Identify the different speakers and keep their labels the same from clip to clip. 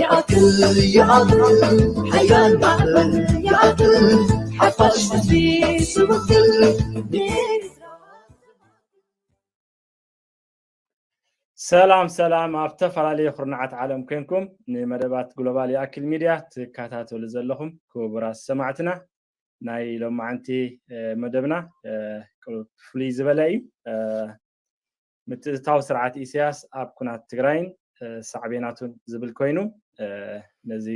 Speaker 1: ይኣክል ይኣክል ሓያል ማዕበል ይኣክል ሓፋሽ ህዝቢ
Speaker 2: ስውክል ሰላም ሰላም ኣብ ተፈላለየ ኩርናዓት ዓለም ኮንኩም ንመደባት ግሎባል ይኣክል ሚድያ ትከታተሉ ዘለኹም ክቡራት ሰማዕትና ናይ ሎማዓንቲ መደብና ፍሉይ ዝበለ እዩ ምትእትታው ስርዓት ኢሰያስ ኣብ ኩናት ትግራይን ሳዕቤናቱን ዝብል ኮይኑ ነዚ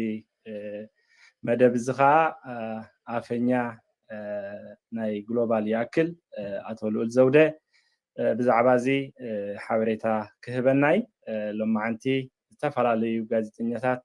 Speaker 2: መደብ እዚ ከዓ ኣፈኛ ናይ ግሎባል ይኣክል ኣቶ ልኡል ዘውደ ብዛዕባ እዚ ሓበሬታ ክህበና እዩ። ሎማዓንቲ ዝተፈላለዩ ጋዜጠኛታት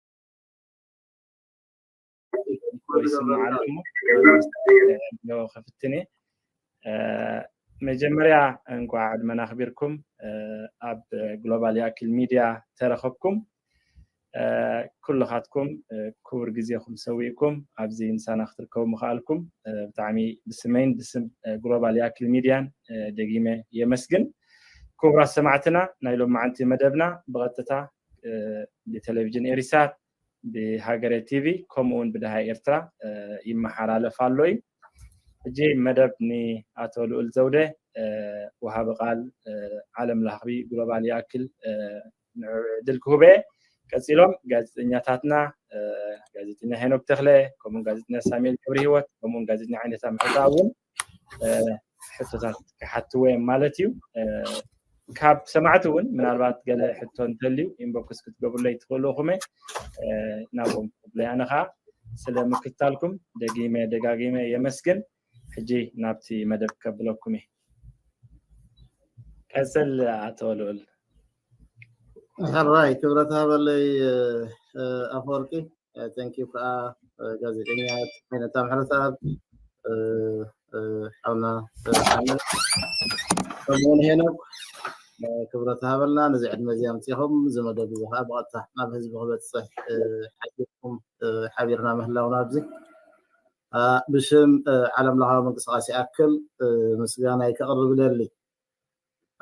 Speaker 2: ከፍትኔ መጀመርያ እንኳ ዕድመና ኣኽቢርኩም ኣብ ግሎባል ያኪል ሚድያ ተረኸብኩም ኩልኻትኩም ክቡር ግዜኹም ሰዊእኩም ኣብዚ ምሳና ክትርከቡ ምኽኣልኩም ብጣዕሚ ብስመይን ብስም ግሎባል ያኪል ሚድያን ደጊመ የመስግን ክቡራት ሰማዕትና ናይ ሎማዓንቲ መደብና ብቐጥታ ብቴሌቭዥን ኤሪሳት ብሃገረ ቲቪ ከምኡ ውን ብደሃይ ኤርትራ ይመሓላለፍ ኣሎ እዩ ሕጂ መደብ ንኣቶ ልኡል ዘውደ ወሃቢ ቃል ዓለም ለኽቢ ግሎባል ይኣክል ንዕድል ክህበ ቀፂሎም ጋዜጠኛታትና ጋዜጠኛ ሄኖክ ተክለ ከምኡውን ጋዜጠኛ ሳሙኤል ክብሪ ህይወት ከምኡውን ጋዜጠኛ ዓይነታ ምሕታ እውን ሕቶታት ክሓትዎ እዮም ማለት እዩ ካብ ሰማዕቲ እውን ምናልባት ገለ ሕቶ እንተልዩ ኢንቦክስ ክትገብሩለይ ትኽእሉ ኹመ ናብኦም ክብለይ ኣነ ከዓ ስለ ምክትታልኩም ደጊመ ደጋጊመ የመስግን ሕጂ ናብቲ መደብ ከብለኩም እየ ቀፅል ኣቶ ልኡል
Speaker 3: ራይ ክብረት ሃበለይ ኣፈወርቂ ተንኪዩ ከዓ ጋዜጠኛ ዓይነታ ምሕረተኣብ ሓውና ከምኡውን ሄኖክ ክብረት ሃበልና ነዚ ዕድመ እዚ ኣምፂኹም እዚ መደብ እዚ ከዓ ብቐጥታ ናብ ህዝቢ ክበፅሕ ሓቢርኩም ሓቢርና ምህላውና ኣብዚ ብሽም ዓለም ለኻዊ ምንቅስቃሴ ኣክል ምስጋናይ ከቕርብ ደሊ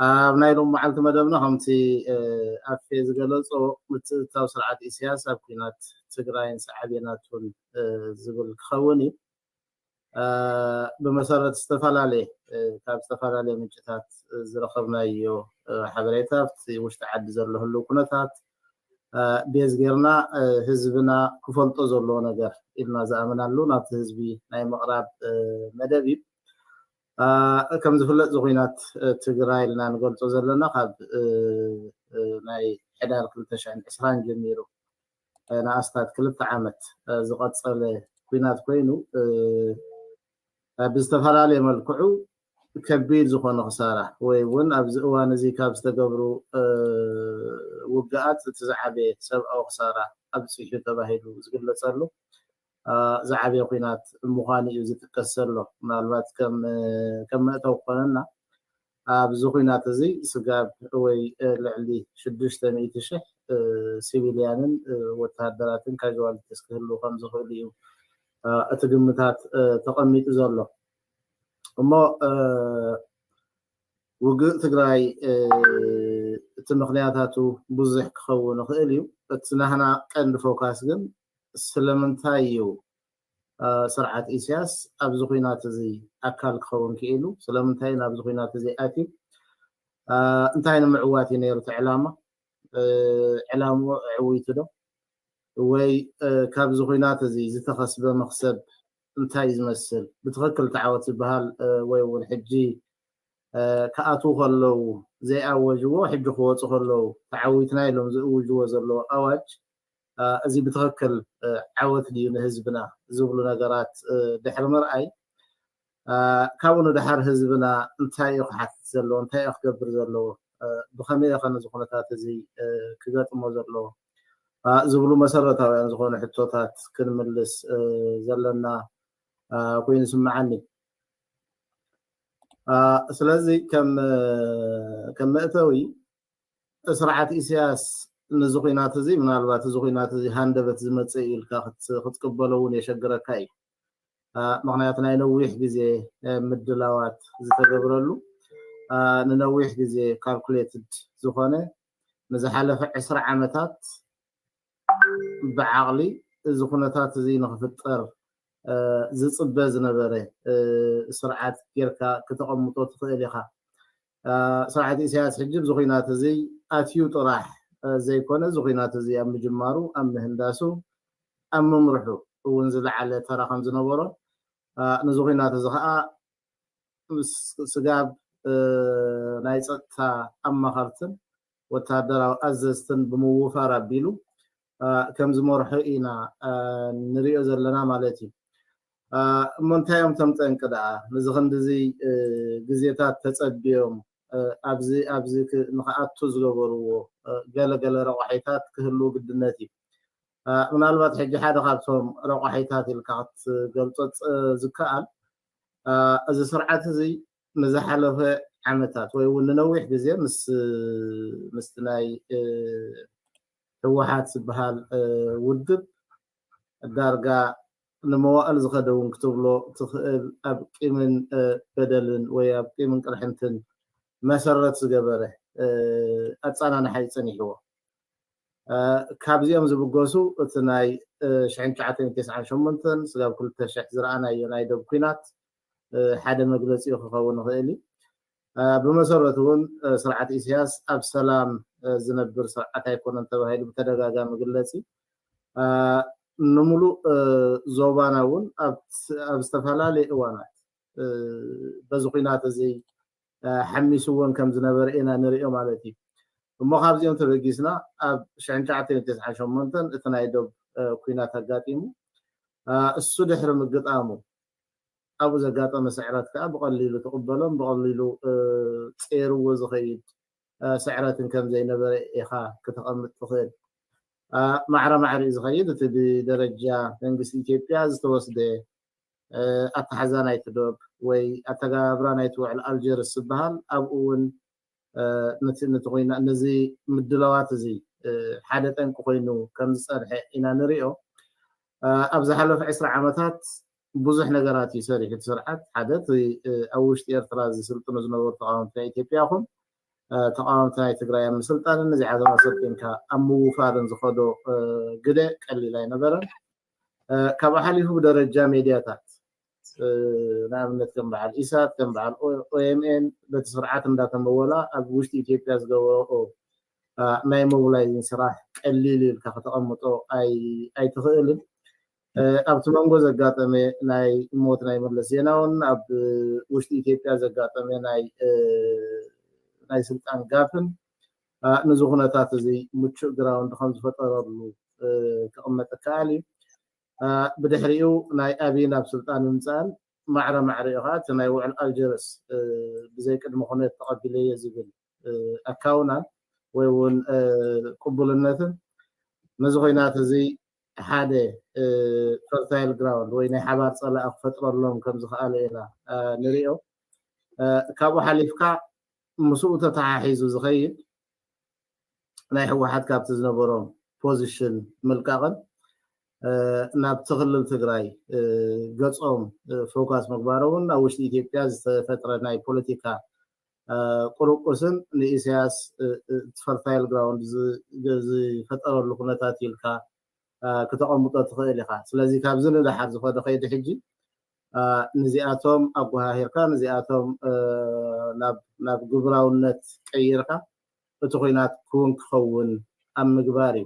Speaker 3: ኣብ ናይ ሎሚ መዓልቲ መደብና ከምቲ ኣፌ ዝገለፆ ምትእትታው ስርዓት ኢሳያስ ኣብ ኩናት ትግራይን ሳዕቤናቱን ዝብል ክኸውን እዩ። ብመሰረት ዝተፈላለየ ካብ ዝተፈላለየ ምንጭታት ዝረኸብናዮ ሓበሬታ ኣብቲ ውሽጢ ዓዲ ዘሎ ህልው ኩነታት ቤዝ ጌርና ህዝብና ክፈልጦ ዘለዎ ነገር ኢልና ዝኣምናሉ ናብቲ ህዝቢ ናይ ምቕራብ መደብ እዩ። ከምዝፍለጥ እዚ ኹናት ትግራይ ኢልና ንገልፆ ዘለና ካብ ናይ ሕዳር ክልተ ሽሕን ዕስራን ጀሚሩ ንኣስታት ክልተ ዓመት ዝቐፀለ ኲናት ኮይኑ ብዝተፈላለየ መልክዑ ከቢድ ዝኾነ ክሳራ ወይ እውን ኣብዚ እዋን እዚ ካብ ዝተገብሩ ውግኣት እቲ ዝዓበየ ሰብኣዊ ክሳራ ኣብፂሑ ተባሂሉ ዝግለፀሉ ዝዓበየ ኲናት ምዃኑ እዩ ዝጥቀስ ዘሎ። ምናልባት ከም መእተዊ ክኾነና ኣብዚ ኲናት እዚ ስጋብ ወይ ልዕሊ ሽዱሽተ ሚእቲ ሽሕ ሲቪልያንን ወተሃደራትን ካዥዋሊቲስ ክህልዉ ከም ዝኽእሉ እዩ እቲ ግምታት ተቐሚጡ ዘሎ እሞ ውግእ ትግራይ እቲ ምኽንያታቱ ብዙሕ ክኸውን ይኽእል እዩ እቲ ናህና ቀንዲ ፎካስ ግን ስለምንታይ እዩ ስርዓት ኢሲያስ ኣብዚ ኹናት እዚ ኣካል ክኸውን ክኢሉ? ስለምንታይ እዩ ናብዚ ኹናት እዚ ኣትዩ? እንታይ ንምዕዋት እዩ ነይሩ እቲ ዕላማ? ዕላምኡ ኣዕዊቱ ዶ? ወይ ካብዚ ኹናት እዚ ዝተኸስበ መኽሰብ እንታይ እዩ ዝመስል? ብትኽክል እቲ ዓወት ዝበሃል ወይ እውን ሕጂ ክኣትዉ ከለዉ ዘይኣወጅዎ ሕጂ ክወፁ ከለዉ ተዓዊትና ኢሎም ዝእውጅዎ ዘለዉ ኣዋጅ እዚ ብትኽክል ዓወት ድዩ ንህዝብና ዝብሉ ነገራት ድሕሪ ምርኣይ ካብኡ ንደሓር ህዝብና እንታይ እዩ ክሓትት ዘለዎ እንታይ እዩ ክገብር ዘለዎ ብኸመይ እየኸ ነዚ ኩነታት እዚ ክገጥሞ ዘለዎ ዝብሉ መሰረታውያን ዝኾኑ ሕቶታት ክንምልስ ዘለና ኮይኑ ስምዓኒ ስለዚ ከም መእተዊ ስርዓት ኢሳያስ ነዚ ኹናት እዚ ምናልባት እዚ ኹናት እዚ ሃንደበት ዝመጽእ እዩ ኢልካ ክትቅበሎ እውን የሸግረካ እዩ። ምክንያት ናይ ነዊሕ ግዜ ምድላዋት ዝተገብረሉ ንነዊሕ ግዜ ካልኩሌትድ ዝኾነ ንዝሓለፈ ዕስራ ዓመታት ብዓቕሊ እዚ ኩነታት እዚ ንክፍጠር ዝፅበ ዝነበረ ስርዓት ጌርካ ክተቐምጦ ትኽእል ኢኻ። ስርዓት ኢሳያስ ሕጂ ኣብዚ ኹናት እዚ ኣትዩ ጥራሕ ዘይኮነ እዚ ኹናት እዚ ኣብ ምጅማሩ ኣብ ምህንዳሱ ኣብ ምምርሑ እውን ዝለዓለ ተራ ከም ዝነበሮ ነዚ ኹናት እዚ ኸኣ ምስ ስጋብ ናይ ጸጥታ ኣማኸርትን ወተሃደራዊ ኣዘዝትን ብምውፋር ኣቢሉ ከም ዝመርሖ ኢና ንሪኦ ዘለና ማለት እዩ። እሞ እንታይ እዮም እቶም ጠንቂ ደኣ ንዚ ክንድዚ ግዜታት ተጸብዮም ኣብዚ ኣብዚ ንክኣቱ ዝገበርዎ ገለ ገለ ረቋሒታት ክህልው ግድነት እዩ። ምናልባት ሕጂ ሓደ ካብቶም ረቋሒታት ኢልካ ክትገልጾ ዝከኣል እዚ ስርዓት እዚ ንዝሓለፈ ዓመታት ወይ እውን ንነዊሕ ግዜ ምስ ምስቲ ናይ ህወሓት ዝበሃል ውድብ ዳርጋ ንመዋእል ዝኸደ እውን ክትብሎ ትኽእል ኣብ ቂምን በደልን ወይ ኣብ ቂምን ቅርሕንትን መሰረት ዝገበረ ኣፀናንሓ እዩ ፀኒሕዎ ካብዚኦም ዝብገሱ እቲ ናይ 1998 ስጋብ 2000 ዝረኣናዮ ናይ ደብ ኩናት ሓደ መግለጺኡ ክኸውን ይኽእል እዩ። ብመሰረቱ እውን ስርዓት ኢሳያስ ኣብ ሰላም ዝነብር ስርዓት ኣይኮነን ተባሂሉ ብተደጋጋሚ ይግለጽ እዩ። ንምሉእ ዞባና እውን ኣብ ዝተፈላለየ እዋናት በዚ ኩናት እዚ ሓሚስዎን ከም ዝነበረ ኢና ንሪኦ ማለት እዩ እሞ ካብዚኦም ተበጊስና ኣብ 1998 እቲ ናይ ዶብ ኩናት ኣጋጢሙ እሱ ድሕሪ ምግጣሙ ኣብኡ ዘጋጠመ ስዕረት ከኣ ብቐሊሉ ትቕበሎን ብቐሊሉ ጼርዎ ዝኸይድ ስዕረትን ከም ዘይነበረ ኢኻ ክተቐምጥ ትኽእል። ማዕረ ማዕሪኡ ዝኸይድ እቲ ብደረጃ መንግስቲ ኢትዮጵያ ዝተወስደ ኣተሓሕዛ ናይቲ ዶብ ወይ ኣተገባብራ ናይቲ ውዕል ኣልጀርስ ዝበሃል ኣብኡ እውን ነቲ ነቲ ኮይና ነዚ ምድላዋት እዚ ሓደ ጠንቂ ኮይኑ ከም ዝጸንሐ ኢና ንሪኦ ኣብ ዝሓለፈ ዕስራ ዓመታት ብዙሕ ነገራት እዩ ሰሪሑ እቲ ስርዓት ሓደ እቲ ኣብ ውሽጢ ኤርትራ ዝስልጥኑ ዝነበሩ ተቃወምቲ ናይ ኢትዮጵያ ይኹን ተቃወምቲ ናይ ትግራይ ኣብ ምስልጣንን እዚ ዓዘም ኣሰልጢንካ ኣብ ምውፋርን ዝኸዶ ግደ ቀሊል ኣይነበረን ካብኡ ሓሊፉ ብደረጃ ሜድያታት ንኣብነት ከም በዓል ኢሳት ከም በዓል ኦኤምኤን በቲ ስርዓት እንዳተመወላ ኣብ ውሽጢ ኢትዮጵያ ዝገበረኦ ናይ ሞብላይዚን ስራሕ ቀሊል እዩ ኢልካ ከተቐምጦ ኣይትኽእልን። ኣብቲ መንጎ ዘጋጠመ ናይ ሞት ናይ መለስ ዜናውን ኣብ ውሽጢ ኢትዮጵያ ዘጋጠመ ናይ ናይ ስልጣን ጋፍን ነዚ ኩነታት እዚ ምቹእ ግራውንድ ከም ዝፈጠረሉ ክቕመጥ ይከኣል እዩ። ብድሕሪኡ ናይ ኣቢይ ናብ ስልጣን ምምጻእን ማዕረ ማዕሪኡ ከኣ እቲ ናይ ውዕል ኣልጀርስ ብዘይ ቅድመ ኩነት ተቐቢለዮ ዝብል ኣካውናን ወይ እውን ቅቡልነትን ነዚ ኩናት እዚ ሓደ ፈርታይል ግራውንድ ወይ ናይ ሓባር ጸላኢ ክፈጥረሎም ከም ዝኸኣለ ኢና ንሪኦ። ካብኡ ሓሊፍካ ምስኡ ተተሓሒዙ ዝኸይድ ናይ ህወሓት ካብቲ ዝነበሮ ፖዚሽን ምልቃቕን ናብቲ ክልል ትግራይ ገፆም ፎካስ ምግባሮምን ኣብ ውሽጢ ኢትዮጵያ ዝተፈጥረ ናይ ፖለቲካ ቁርቁስን ንኢሳያስ እቲ ፈርታይል ግራውንድ ዝፈጠረሉ ኩነታት ኢልካ ክተቐምጦ ትኽእል ኢኻ። ስለዚ ካብዚ ንደሓር ዝኾነ ከይዲ ሕጂ ንዚኣቶም ኣጎሃሂርካ ንዚኣቶም ናብ ግብራውነት ቀይርካ እቲ ኩናት ክውን ክኸውን ኣብ ምግባር እዩ።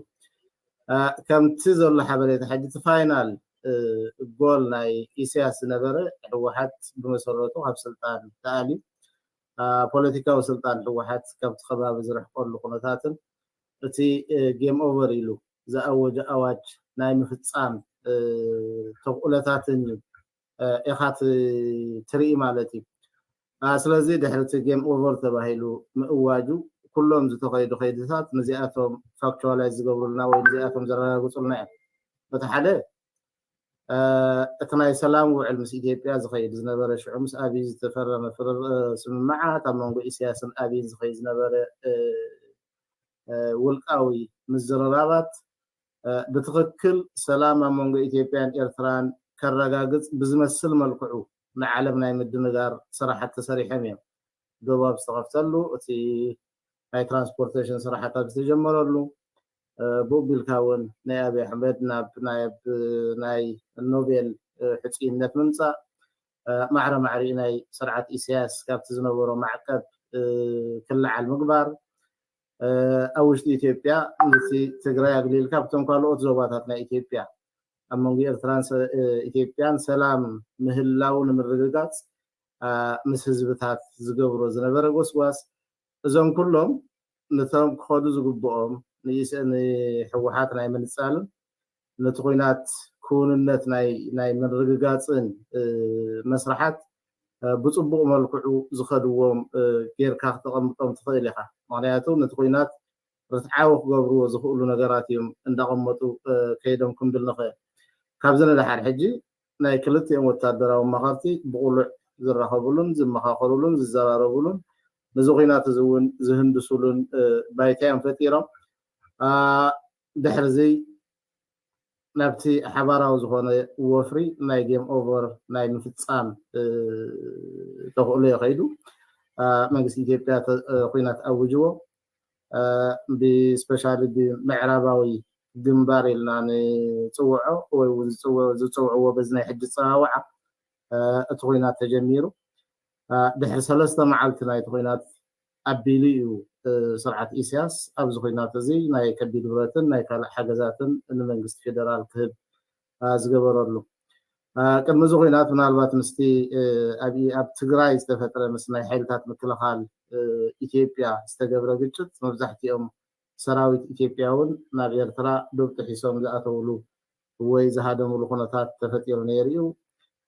Speaker 3: ከምቲ ዘሎ ሓበሬታ ሕጂ እቲ ፋይናል ጎል ናይ ኢሰያስ ዝነበረ ህወሓት ብመሰረቱ ካብ ስልጣን ተኣልዩ ፖለቲካዊ ስልጣን ህወሓት ካብቲ ከባቢ ዝርሕቀሉ ኩነታትን እቲ ጌም ኦቨር ኢሉ ዝኣወጆ ኣዋጅ ናይ ምፍጻም ተኽእሎታትን ኢኻ ትርኢ ማለት እዩ። ስለዚ ድሕሪ እቲ ጌም ኦቨር ተባሂሉ ምእዋጁ ኩሎም ዝተኸይዱ ከይድታት ንዚኣቶም ፋክቹዋላይዝ ዝገብሩልና ወይ ንዚኣቶም ዘረጋግጹልና እዮም። እቲ ሓደ እቲ ናይ ሰላም ውዕል ምስ ኢትዮጵያ ዝኸይድ ዝነበረ ሽዑ ምስ ኣብይ ዝተፈረመ ስምምዓት ኣብ መንጎ ኢሳያስን ኣብይን ዝኸይድ ዝነበረ ውልቃዊ ምዝርራባት ብትኽክል ሰላም ኣብ መንጎ ኢትዮጵያን ኤርትራን ከረጋግጽ ብዝመስል መልክዑ ንዓለም ናይ ምድንጋር ስራሓት ተሰሪሐም እዮም። ዶብ ኣብ ዝተኸፍተሉ፣ እቲ ናይ ትራንስፖርቴሽን ስራሓት ኣብ ዝተጀመረሉ፣ ብኡ ቢልካ እውን ናይ ኣብይ ኣሕመድ ናብ ናይ ኖቤል ሕጹይነት ምምጻእ ማዕረ ማዕሪኡ ናይ ስርዓት ኢሳያስ ካብቲ ዝነበሮ ማዕቀብ ክለዓል ምግባር፣ ኣብ ውሽጢ ኢትዮጵያ ነቲ ትግራይ ኣግሊልካ ኣብቶም ካልኦት ዞባታት ናይ ኢትዮጵያ ኣብ መንጎ ኤርትራን ኢትዮጵያን ሰላም ምህላው ንምርግጋጽ ምስ ህዝብታት ዝገብሮ ዝነበረ ጎስጓስ እዞም ኩሎም ነቶም ክኸዱ ዝግብኦም ንህወሓት ናይ ምንጻልን ነቲ ኹናት ክውንነት ናይ ምርግጋፅን መስርሓት ብፅቡቕ መልክዑ ዝኸድዎም ገይርካ ክተቐምጦም ትኽእል ኢኻ። ምኽንያቱ ነቲ ኹናት ርትዓዊ ክገብርዎ ዝኽእሉ ነገራት እዮም እንዳቐመጡ ከይዶም ክንብል ንኽእል። ካብዚ ንደሓር ሕጂ ናይ ክልቲኦም ወታደራዊ ኣማኸርቲ ብቕሉዕ ዝራኸብሉን ዝመኻኸርሉን ዝዘራረብሉን ነዚ ኹናት እዚ እውን ዝህንድስሉን ባይታ እዮም ፈጢሮም። ድሕሪዚ ናብቲ ሓባራዊ ዝኾነ ወፍሪ ናይ ጌም ኦቨር ናይ ምፍፃም ተኽእሎ እዩ ከይዱ። መንግስቲ ኢትዮጵያ ኩናት ኣውጅዎ ብስፔሻሊ ብምዕራባዊ ግንባር ኢልና ንፅውዖ ወይ እውን ዝፅውዕዎ በዚ ናይ ሕጂ ፀዋውዓ እቲ ኩናት ተጀሚሩ ድሕሪ ሰለስተ መዓልቲ ናይቲ ኹናት ኣቢሉ እዩ ስርዓት ኢሲያስ ኣብዚ ኹናት እዚ ናይ ከቢድ ብረትን ናይ ካልእ ሓገዛትን ንመንግስቲ ፌደራል ክህብ ዝገበረሉ። ቅድሚ እዚ ኹናት ምናልባት ምስቲ ኣብ ትግራይ ዝተፈጥረ ምስ ናይ ሓይልታት ምክልኻል ኢትዮጵያ ዝተገብረ ግጭት መብዛሕቲኦም ሰራዊት ኢትዮጵያ እውን ናብ ኤርትራ ዶብ ጥሒሶም ዝኣተውሉ ወይ ዝሃደምሉ ኩነታት ተፈጢሩ ነይሩ'ዩ።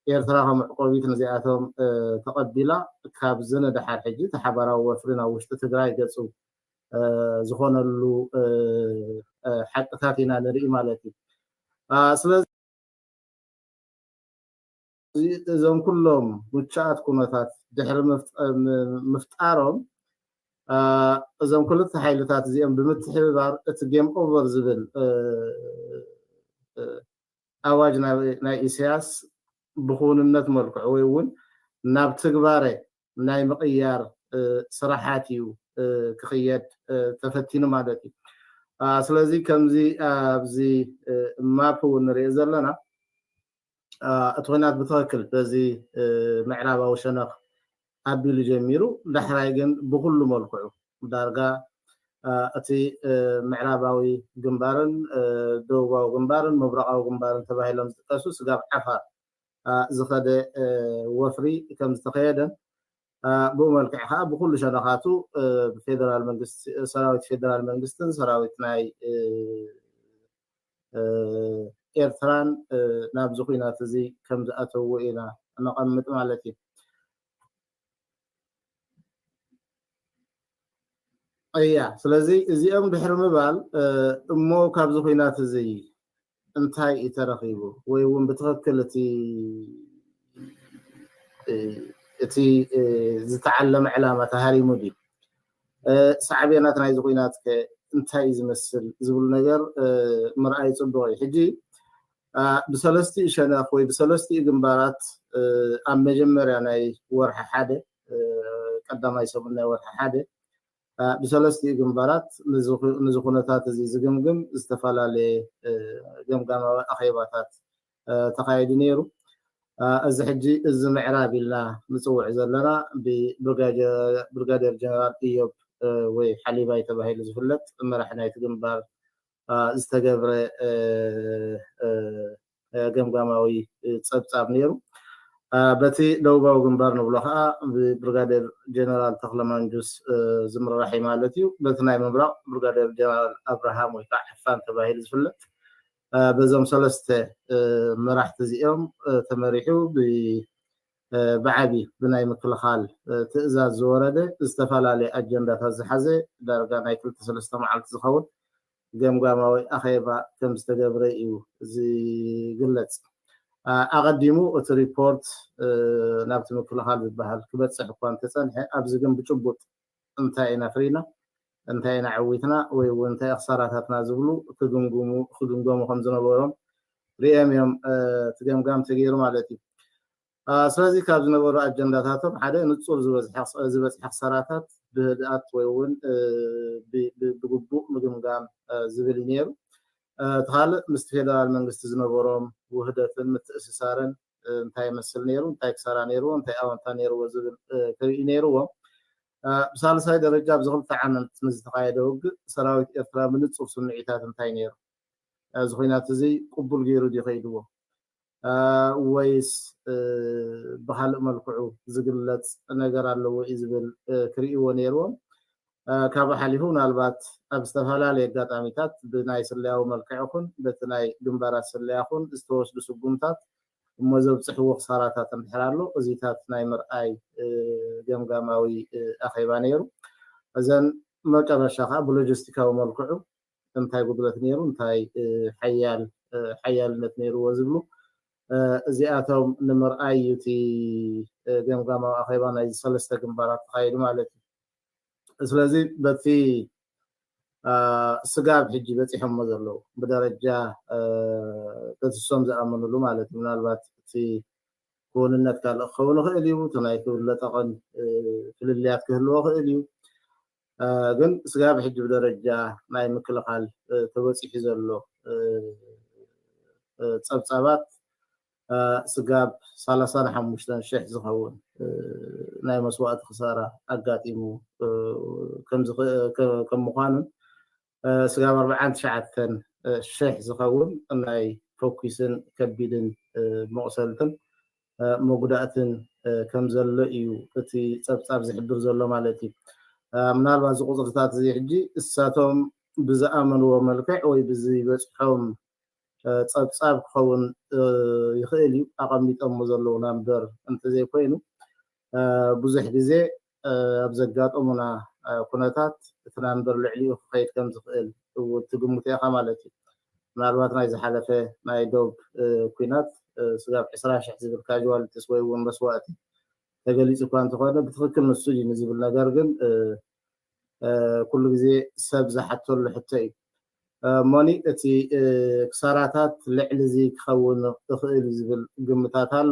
Speaker 3: ኤርትራ ከም መዕቆቢት ንዚኣቶም ተቐቢላ ካብዚ ንደሓር ሕጂ እቲ ሓባራዊ ወፍሪ ናብ ውሽጢ ትግራይ ገጹ ዝኾነሉ ሓቅታት ኢና ንርኢ ማለት'ዩ። ስለዚ። እዞም ኩሎም ምቹኣት ኩነታት ድሕሪ ምፍጣሮም እዞም ክልተ ሓይልታት እዚኦም ብምትሕብባር እቲ ጌም ኦቨር ዝብል ኣዋጅ ናይ ኢሳያስ ብክውንነት መልክዑ ወይ እውን ናብ ትግባረ ናይ ምቕያር ስራሓት እዩ ክኽየድ ተፈቲኑ ማለት እዩ ስለዚ ከምዚ ኣብዚ ማፕ እውን ንሪኦ ዘለና እቲ ኹናት ብትኽክል በዚ ምዕራባዊ ሸነኽ ኣቢሉ ጀሚሩ ዳሕራይ ግን ብኹሉ መልክዑ ዳርጋ እቲ ምዕራባዊ ግንባርን ደቡባዊ ግንባርን ምብራቓዊ ግንባርን ተባሂሎም ዝጥቀሱ ስጋብ ዓፋር ዝኸደ ወፍሪ ከም ዝተኸየደን ብኡ መልክዕ ከኣ ብኩሉ ሸነኻቱ ብፌደራል መንግስቲ ሰራዊት ፌደራል መንግስትን ሰራዊት ናይ ኤርትራን ናብዚ ኩናት እዚ ከም ዝኣተውዎ ኢና ነቐምጥ ማለት እዩ እያ ስለዚ እዚኦም ድሕሪ ምባል እሞ ካብዚ ኩናት እዚ እንታይ እዩ ተረኺቡ ወይ እውን ብትኽክል እቲ እቲ ዝተዓለመ ዕላማ ተሃሪሙ ድዩ ሳዕቤናት ናይዚ ኩናት ከ እንታይ እዩ ዝመስል ዝብሉ ነገር ምርኣይ ፅቡቅ እዩ ሕጂ ብሰለስትኡ ሸነኽ ወይ ብሰለስትኡ ግንባራት ኣብ መጀመርያ ናይ ወርሒ ሓደ ቀዳማይ ሰሙን ናይ ወርሒ ሓደ ብሰለስቲኡ ግንባራት ንዚ ኩነታት እዚ ዝግምግም ዝተፈላለየ ገምጋማዊ ኣኼባታት ተኻይዱ ነይሩ። እዚ ሕጂ እዚ ምዕራብ ኢልና ንጽውዕ ዘለና ብብርጋዴር ጀነራል እዮብ ወይ ሓሊባይ ተባሂሉ ዝፍለጥ መራሒ ናይቲ ግንባር ዝተገብረ ገምጋማዊ ጸብጻብ ነይሩ። በቲ ደቡባዊ ግንባር ንብሎ ከኣ ብብርጋዴር ጀነራል ተኽለ ማንጁስ ዝምራሕ'ዩ ማለት እዩ። በቲ ናይ ምብራቕ ብርጋዴር ጀነራል ኣብርሃም ወይ ከኣ ሕፋን ተባሂሉ ዝፍለጥ በዞም ሰለስተ መራሕቲ እዚኦም ተመሪሑ ብዓቢ ብናይ ምክልኻል ትእዛዝ ዝወረደ ዝተፈላለየ ኣጀንዳታት ዝሓዘ ዳርጋ ናይ ክልተ ሰለስተ መዓልቲ ዝኸውን ገምጋማዊ ኣኼባ ከምዝተገብረ እዩ ዝግለጽ። ኣቐዲሙ እቲ ሪፖርት ናብቲ ምክልኻል ዝበሃል ክበጽሕ እኳ እንተጸንሐ ኣብዚ ግን ብጭቡጥ እንታይ ኢና ፍሪና፣ እንታይ ኢና ዓዊትና ወይ እውን እንታይ እዩ ክሳራታትና ዝብሉ ክግምግሙ ክግምገሙ ከምዝነበሮም ርእዮም እዮም እቲ ገምጋም ተገይሩ ማለት እዩ። ስለዚ ካብ ዝነበሩ ኣጀንዳታቶም ሓደ ንጹር ዝበጽሐ ክሳራታት ብህድኣት ወይ እውን ብግቡእ ምግምጋም ዝብል እዩ ነይሩ። እቲ ካልእ ምስቲ ፌደራል መንግስቲ ዝነበሮም ውህደትን ምትእስሳርን እንታይ ይመስል ነይሩ፣ እንታይ ክሳራ ነይርዎ፣ እንታይ ኣወንታ ነይርዎ ዝብል ክርእዩ ነይርዎም። ብሳልሳይ ደረጃ ኣብዚ ክልተ ዓመት ምስ ዝተኻየደ ውግእ ሰራዊት ኤርትራ ብንጹር ስምዒታት እንታይ ነይሩ፣ እዚ ኹናት እዚ ቅቡል ገይሩ ድዩ ከይድዎ፣ ወይስ ብኻልእ መልክዑ ዝግለፅ ነገር ኣለዎ እዩ ዝብል ክርእይዎ ነይርዎም። ካብኡ ሓሊፉ ምናልባት ኣብ ዝተፈላለየ ኣጋጣሚታት ብናይ ስለያዊ መልክዕ ይኹን በቲ ናይ ግንባራት ስለያ ይኹን ዝተወስዱ ስጉምታት እሞ ዘብፅሕዎ ክሳራታት እንድሕር ኣሎ እዚታት ናይ ምርኣይ ገምጋማዊ ኣኼባ ነይሩ። እዘን መጨረሻ ከዓ ብሎጂስቲካዊ መልክዑ እንታይ ጉድለት ነይሩ እንታይ ሓያል ሓያልነት ነይርዎ ዝብሉ እዚኣቶም ንምርኣይ እዩ እቲ ገምጋማዊ ኣኼባ ናይዚ ሰለስተ ግንባራት ተኻይዱ ማለት እዩ ስለዚ በቲ ስጋብ ሕጂ በፂሖሞ ዘለዉ ብደረጃ ተትሶም ዝኣመንሉ ማለት እዩ ምናልባት እቲ ክውንነት ካልእ ክኸውን ይኽእል እዩ እቲ ናይ ክብለጠቐን ፍልልያት ክህልዎ ክእል እዩ ግን ስጋብ ሕጂ ብደረጃ ናይ ምክልኻል ተበፂሑ ዘሎ ፀብፃባት ስጋብ ሰላሳን ሓሙሽተን ሽሕ ዝኸውን ናይ መስዋእቲ ክሳራ ኣጋጢሙ ከም ምዃኑን ስጋብ ኣርብዓን ትሽዓተን ሽሕ ዝኸውን ናይ ፈኲስን ከቢድን መቑሰልትን መጉዳእትን ከም ዘሎ ኢዩ እቲ ጸብጻብ ዝሕብር ዘሎ ማለት ኢዩ። ምናልባት እዚ ቁጽርታት እዚ ሕጂ እሳቶም ብዝኣመንዎ መልክዕ ወይ ብዝበጽሖም ጸብጻብ ክኸውን ይኽእል ኢዩ ኣቐሚጠሞ ዘለዉና እምበር እንተዘይኮይኑ ብዙሕ ግዜ ኣብ ዘጋጠሙና ኩነታት እቲ ናምበር ልዕሊኡ ክኸይድ ከም ዝኽእል እው ትግምቶ ኢኻ ማለት እዩ። ምናልባት ናይ ዝሓለፈ ናይ ዶብ ኲናት ስጋብ ዕስራ ሽሕ ዝብል ካዥዋልቲስ ወይ እውን መስዋእቲ ተገሊፁ እኳ እንተኾነ ብትኽክል ንሱ ድዩ ንዝብል ነገር ግን ኩሉ ግዜ ሰብ ዝሓተሉ ሕቶ እዩ። እሞኒ እቲ ክሳራታት ልዕሊ እዚ ክኸውን እኽእል እዩ ዝብል ግምታት ኣሎ።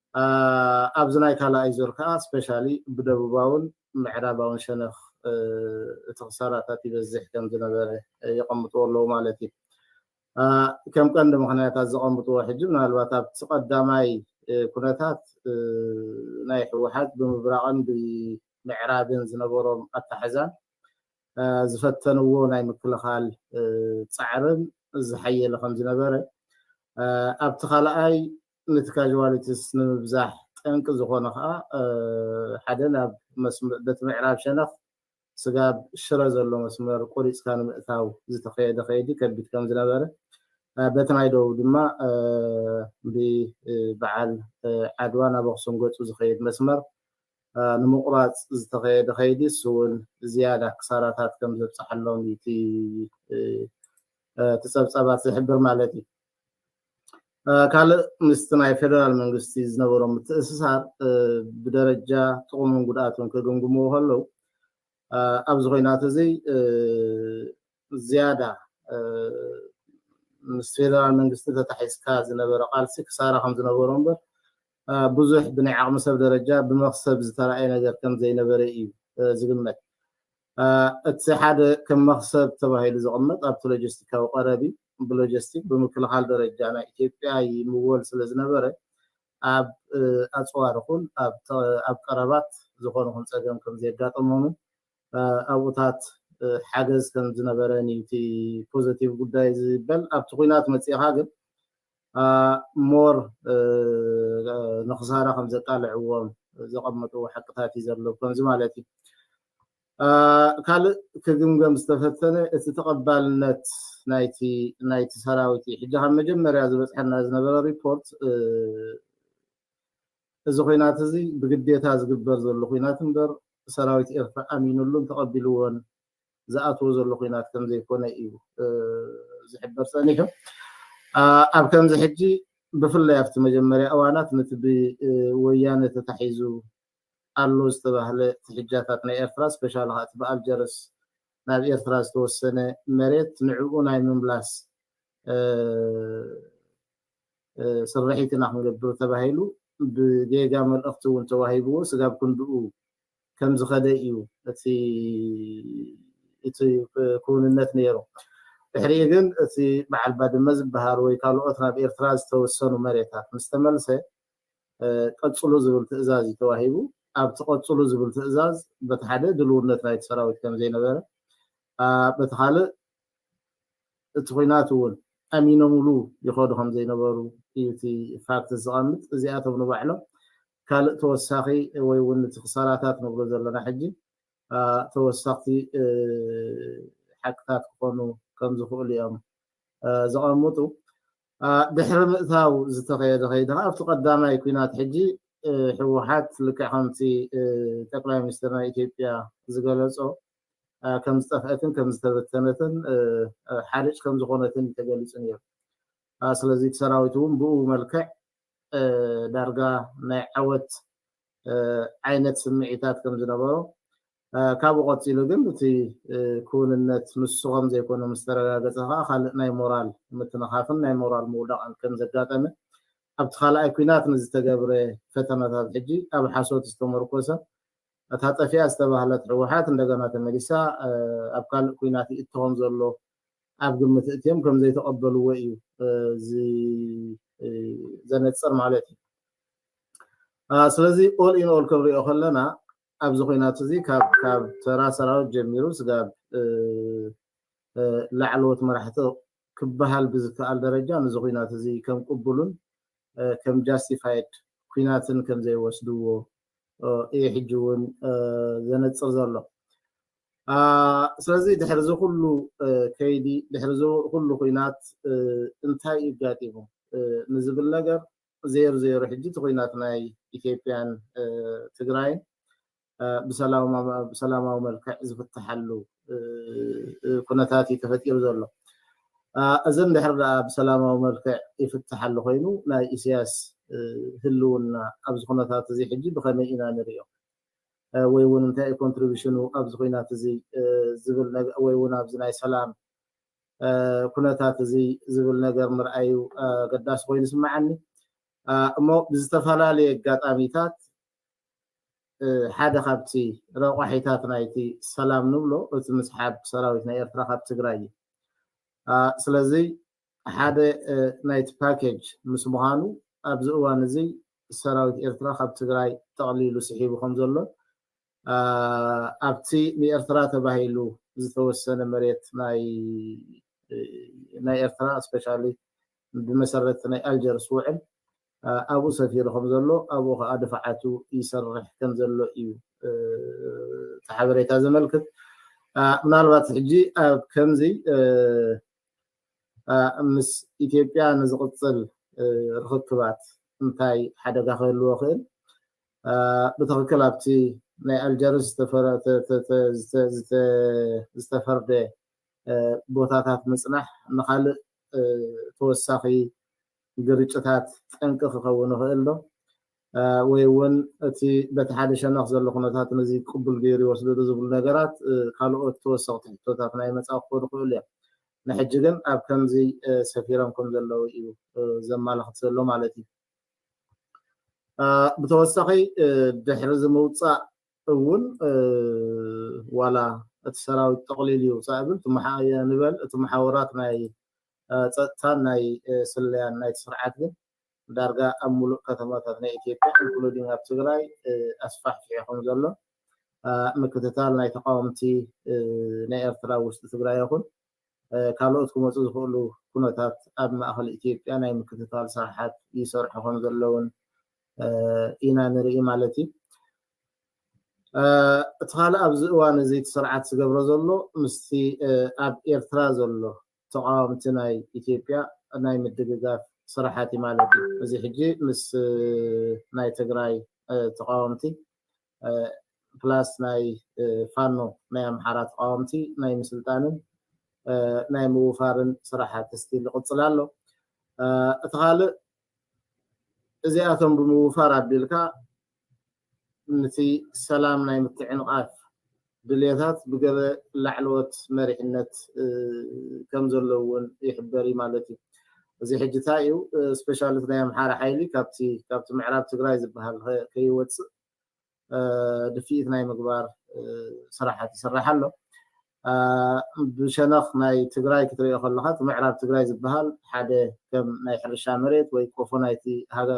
Speaker 3: ኣብዚ ናይ ካልኣይ ዙር ከኣ ስፐሻሊ ብደቡባውን ምዕራባውን ሸነኽ እቲ ክሳራታት ይበዝሕ ከም ዝነበረ የቐምጥዎ ኣለዉ ማለት እዩ። ከም ቀንዲ ምኽንያታት ዘቐምጥዎ ሕጂ ምናልባት ኣብቲ ቀዳማይ ኩነታት ናይ ህወሓት ብምብራቕን ብምዕራብን ዝነበሮም ኣታሕዛን ዝፈተንዎ ናይ ምክልኻል ጻዕርን ዝሓየለ ከም ዝነበረ ኣብቲ ካልኣይ ነቲ ካዥዋሊቲስ ንምብዛሕ ጠንቂ ዝኾነ ከኣ ሓደ ናብ በቲ ምዕራብ ሸነኽ ስጋብ ሽረ ዘሎ መስመር ቆሪጽካ ንምእታው ዝተኸየደ ከይዲ ከቢድ ከምዝነበረ በቲ ናይ ደቡብ ድማ ብበዓል ዓድዋ ናብ ኣኽሱም ገጹ ዝኸይድ መስመር ንምቑራጽ ዝተኸየደ ከይዲ እሱ እውን ዝያዳ ክሳራታት ከም ዘብፅሓሎም እቲ እቲ ፀብፃባት ዝሕብር ማለት እዩ ካልእ ምስቲ ናይ ፌደራል መንግስቲ ዝነበሮም ምትእስሳር ብደረጃ ጥቕሙን ጉድኣቱን ክግምግምዎ ከለው ኣብዚ ኮይናት እዚ ዝያዳ ምስ ፌደራል መንግስቲ ተታሒዝካ ዝነበረ ቃልሲ ክሳራ ከም ዝነበሮ እምበር ብዙሕ ብናይ ዓቕሚ ሰብ ደረጃ ብመክሰብ ዝተረኣየ ነገር ከም ዘይነበረ እዩ ዝግመት እቲ ሓደ ከም መኽሰብ ተባሂሉ ዝቕመጥ ኣብቲ ሎጀስቲካዊ ቀረብ እዩ። ብሎጀስቲክ ብምክልኻል ደረጃ ናይ ኢትዮጵያ ይምወል ስለዝነበረ ኣብ ኣፅዋር ይኹን ኣብ ቀረባት ዝኾነ ይኹን ፀገም ከምዘየጋጠሞምን ኣብኡታት ሓገዝ ከምዝነበረን እዩ እቲ ፖዘቲቭ ጉዳይ ዝበል። ኣብቲ ኹናት መፂእኻ ግን ሞር ንክሳራ ከምዘቃልዕዎም ዘቐመጥዎ ሓቅታት እዩ ዘሎ ከምዚ ማለት እዩ። ካልእ ክግምገም ዝተፈተነ እቲ ተቐባልነት ናይቲ ናይቲ ሰራዊት እዩ። ሕጂ ካብ መጀመርያ ዝበፅሐና ዝነበረ ሪፖርት እዚ ኩናት እዚ ብግዴታ ዝግበር ዘሎ ኩናት እምበር ሰራዊት ኤርትራ ኣሚኑሉን ተቐቢልዎን ዝኣትዎ ዘሎ ኲናት ከምዘይኮነ እዩ ዝሕበር ጸኒሑ። ኣብ ከምዚ ሕጂ ብፍላይ ኣብቲ መጀመርያ እዋናት ነቲ ብወያነ ተታሒዙ ኣሎ ዝተባህለ ትሕጃታት ናይ ኤርትራ ስፔሻሊ ከኣ እቲ ብኣልጀርስ ናብ ኤርትራ ዝተወሰነ መሬት ንዕኡ ናይ ምምላስ ስርሒት ኢና ክንገብር ተባሂሉ ብጌጋ መልእኽቲ እውን ተዋሂብዎ ስጋብ ክንድኡ ከም ዝኸደ እዩ እቲ እቲ ክውንነት ነይሩ። ድሕሪኡ ግን እቲ በዓል ባድመ ዝበሃል ወይ ካልኦት ናብ ኤርትራ ዝተወሰኑ መሬታት ምስ ተመልሰ ቀጽሉ ዝብል ትእዛዝ እዩ ተዋሂቡ። ኣብቲ ቀጽሉ ዝብል ትእዛዝ በቲ ሓደ ድልውነት ናይቲ ሰራዊት ከም ዘይነበረ በቲ ካልእ እቲ ኹናት እውን ኣሚኖምሉ ይኸዱ ከም ዘይነበሩ እዩ እቲ ፋክት ዘቐምጥ። እዚኣቶም ንባዕሎም ካልእ ተወሳኺ ወይ እውን እቲ ክሳራታት ንብሎ ዘለና ሕጂ ተወሰኽቲ ሓቅታት ክኾኑ ከም ዝኽእሉ እዮም ዘቐምጡ። ድሕሪ ምእታው ዝተኸየደ ከይዲ ከዓ ኣብቲ ቀዳማይ ኩናት ሕጂ ህወሓት ልክዕ ከምቲ ጠቅላይ ሚኒስትር ናይ ኢትዮጵያ ዝገለጾ ከም ዝጠፍአትን ከም ዝተበተነትን ሓርጭ ከም ዝኾነትን ተገሊጹ ነይሩ። ስለዚ እቲ ሰራዊት እውን ብኡ መልክዕ ዳርጋ ናይ ዓወት ዓይነት ስምዒታት ከም ዝነበሮ፣ ካብኡ ቀጺሉ ግን እቲ ክውንነት ምስኹም ዘይኮኑ ምስ ተረጋገጸ ከኣ ካልእ ናይ ሞራል ምትንኻፍን ናይ ሞራል ምውዳቕን ከም ዘጋጠመ ኣብቲ ካልኣይ ኩናት ንዝተገብረ ፈተነታት ሕጂ ኣብ ሓሶት ዝተመርኮሰ እታ ጠፊኣ ዝተባህለት ሕወሓት እንደገና ተመሊሳ ኣብ ካልእ ኩናት ይእቶ ከም ዘሎ ኣብ ግምት እእትዮም ከምዘይተቐበልዎ እዩ ዘነጽር ማለት እዩ። ስለዚ ኦል ኢን ኦል ክንሪኦ ከለና ኣብዚ ኩናት እዚ ካብ ካብ ተራ ሰራዊት ጀሚሩ ስጋብ ላዕለዎት መራሕቲ ክበሃል ብዝከኣል ደረጃ ነዚ ኩናት እዚ ከም ቅቡሉን ከም ጃስቲፋይድ ኩናትን ከም ዘይወስድዎ እዩ ሕጂ እውን ዘነፅር ዘሎ ስለዚ ድሕሪ እዚ ኩሉ ከይዲ ድሕሪ እዚ ኩሉ ኩናት እንታይ እዩ ኣጋጢሙ ንዝብል ነገር ዜሩ ዜሩ ሕጂ እቲ ኩናት ናይ ኢትዮጵያን ትግራይን ብሰላማዊ መልክዕ ዝፍትሓሉ ኩነታት እዩ ተፈጢሩ ዘሎ እዚ እንድሕር ደኣ ብሰላማዊ መልክዕ ይፍትሓሉ ኮይኑ ናይ ኢሳያስ ህልውና ኣብዚ ኩነታት እዚ ሕጂ ብኸመይ ኢና ንሪኦ ወይ ውን እንታይ እዩ ኮንትሪቡሽኑ ኣብዚ ኹናት እዚ ዝብል ወይ ውን ኣብዚ ናይ ሰላም ኩነታት እዚ ዝብል ነገር ምርኣዩ ኣገዳሲ ኮይኑ ይስመዓኒ እሞ ብዝተፈላለየ ኣጋጣሚታት ሓደ ካብቲ ረቋሒታት ናይቲ ሰላም ንብሎ እቲ ምስሓብ ሰራዊት ናይ ኤርትራ ካብ ትግራይ እዩ ስለዚ ሓደ ናይቲ ፓኬጅ ምስ ምዃኑ ኣብዚ እዋን እዚ ሰራዊት ኤርትራ ካብ ትግራይ ጠቕሊሉ ስሒቡ ከምዘሎን ኣብቲ ንኤርትራ ተባሂሉ ዝተወሰነ መሬት ናይ ኤርትራ እስፔሻሊ ብመሰረት ናይ ኣልጀርስ ውዕል ኣብኡ ሰፊሩ ከምዘሎ ኣብኡ ከዓ ድፋዓቱ ይሰርሕ ከምዘሎ እዩ እቲ ሓበሬታ ዘመልክት ምናልባት ሕጂ ኣብ ከምዚ ምስ ኢትዮጵያ ንዝቕፅል ርኽክባት እንታይ ሓደጋ ክህልዎ ይኽእል? ብትኽክል ኣብቲ ናይ ኣልጀርስ ዝተፈርደ ቦታታት ምፅናሕ ንኻልእ ተወሳኺ ግርጭታት ጠንቂ ክኸውን ይኽእል ዶ? ወይ እውን እቲ በቲ ሓደ ሸነኽ ዘሎ ኩነታት ነዚ ቅቡል ገይሩ ይወስዶ ዶ ዝብሉ ነገራት ካልኦት ተወሰኽቲ ሕቶታት ናይ መጻኢ ክኾኑ ይኽእሉ እዮም። ንሕጂ ግን ኣብ ከምዚ ሰፊሮም ከም ዘለዉ እዩ ዘማላኽት ዘሎ ማለት እዩ። ብተወሳኺ ድሕሪ እዚ ምውጻእ እውን ዋላ እቲ ሰራዊት ጠቕሊሉ ይውጻእ ይብል፣ እቲ ንበል እቲ መሓውራት ናይ ጸጥታን ናይ ስለያን ናይቲ ስርዓት ግን ዳርጋ ኣብ ሙሉእ ከተማታት ናይ ኢትዮጵያ ኢንክሉዲንግ ኣብ ትግራይ ኣስፋሕፊሑ ከም ዘሎ ምክትታል ናይ ተቃወምቲ ናይ ኤርትራ ኣብ ውሽጢ ትግራይ ይኹን ካልኦት ክመፁ ዝኽእሉ ኩነታት ኣብ ማእኸል ኢትዮጵያ ናይ ምክትታል ስራሓት ይሰርሑ ከም ዘለውን ኢና ንርኢ ማለት እዩ እቲ ካልእ ኣብዚ እዋን እዚ እቲ ስርዓት ዝገብሮ ዘሎ ምስቲ ኣብ ኤርትራ ዘሎ ተቓወምቲ ናይ ኢትዮጵያ ናይ ምድግጋፍ ስራሓት እዩ ማለት እዩ። እዚ ሕጂ ምስ ናይ ትግራይ ተቓወምቲ ፕላስ ናይ ፋኖ ናይ ኣምሓራ ተቓወምቲ ናይ ምስልጣንን ናይ ምውፋርን ስራሓት ስቲል ይቕፅል ኣሎ። እቲ ካልእ እዚኣቶም ብምውፋር ኣቢልካ ንቲ ሰላም ናይ ምትዕንቓፍ ድልየታት ብገለ ላዕለዎት መሪሕነት ከም ዘሎ እውን ይሕበር እዩ ማለት እዩ። እዚ ሕጂ ታይ እዩ ስፔሻሊ ናይ ኣምሓራ ሓይሊ ካብቲ ካብቲ ምዕራብ ትግራይ ዝበሃል ከይወፅእ ድፍኢት ናይ ምግባር ስራሓት ይስራሕ ኣሎ። ብሸነኽ ናይ ትግራይ ክትሪኦ ከለኻ እቲ ምዕራብ ትግራይ ዝበሃል ሓደ ከም ናይ ሕርሻ መሬት ወይ ቆፎ ናይቲ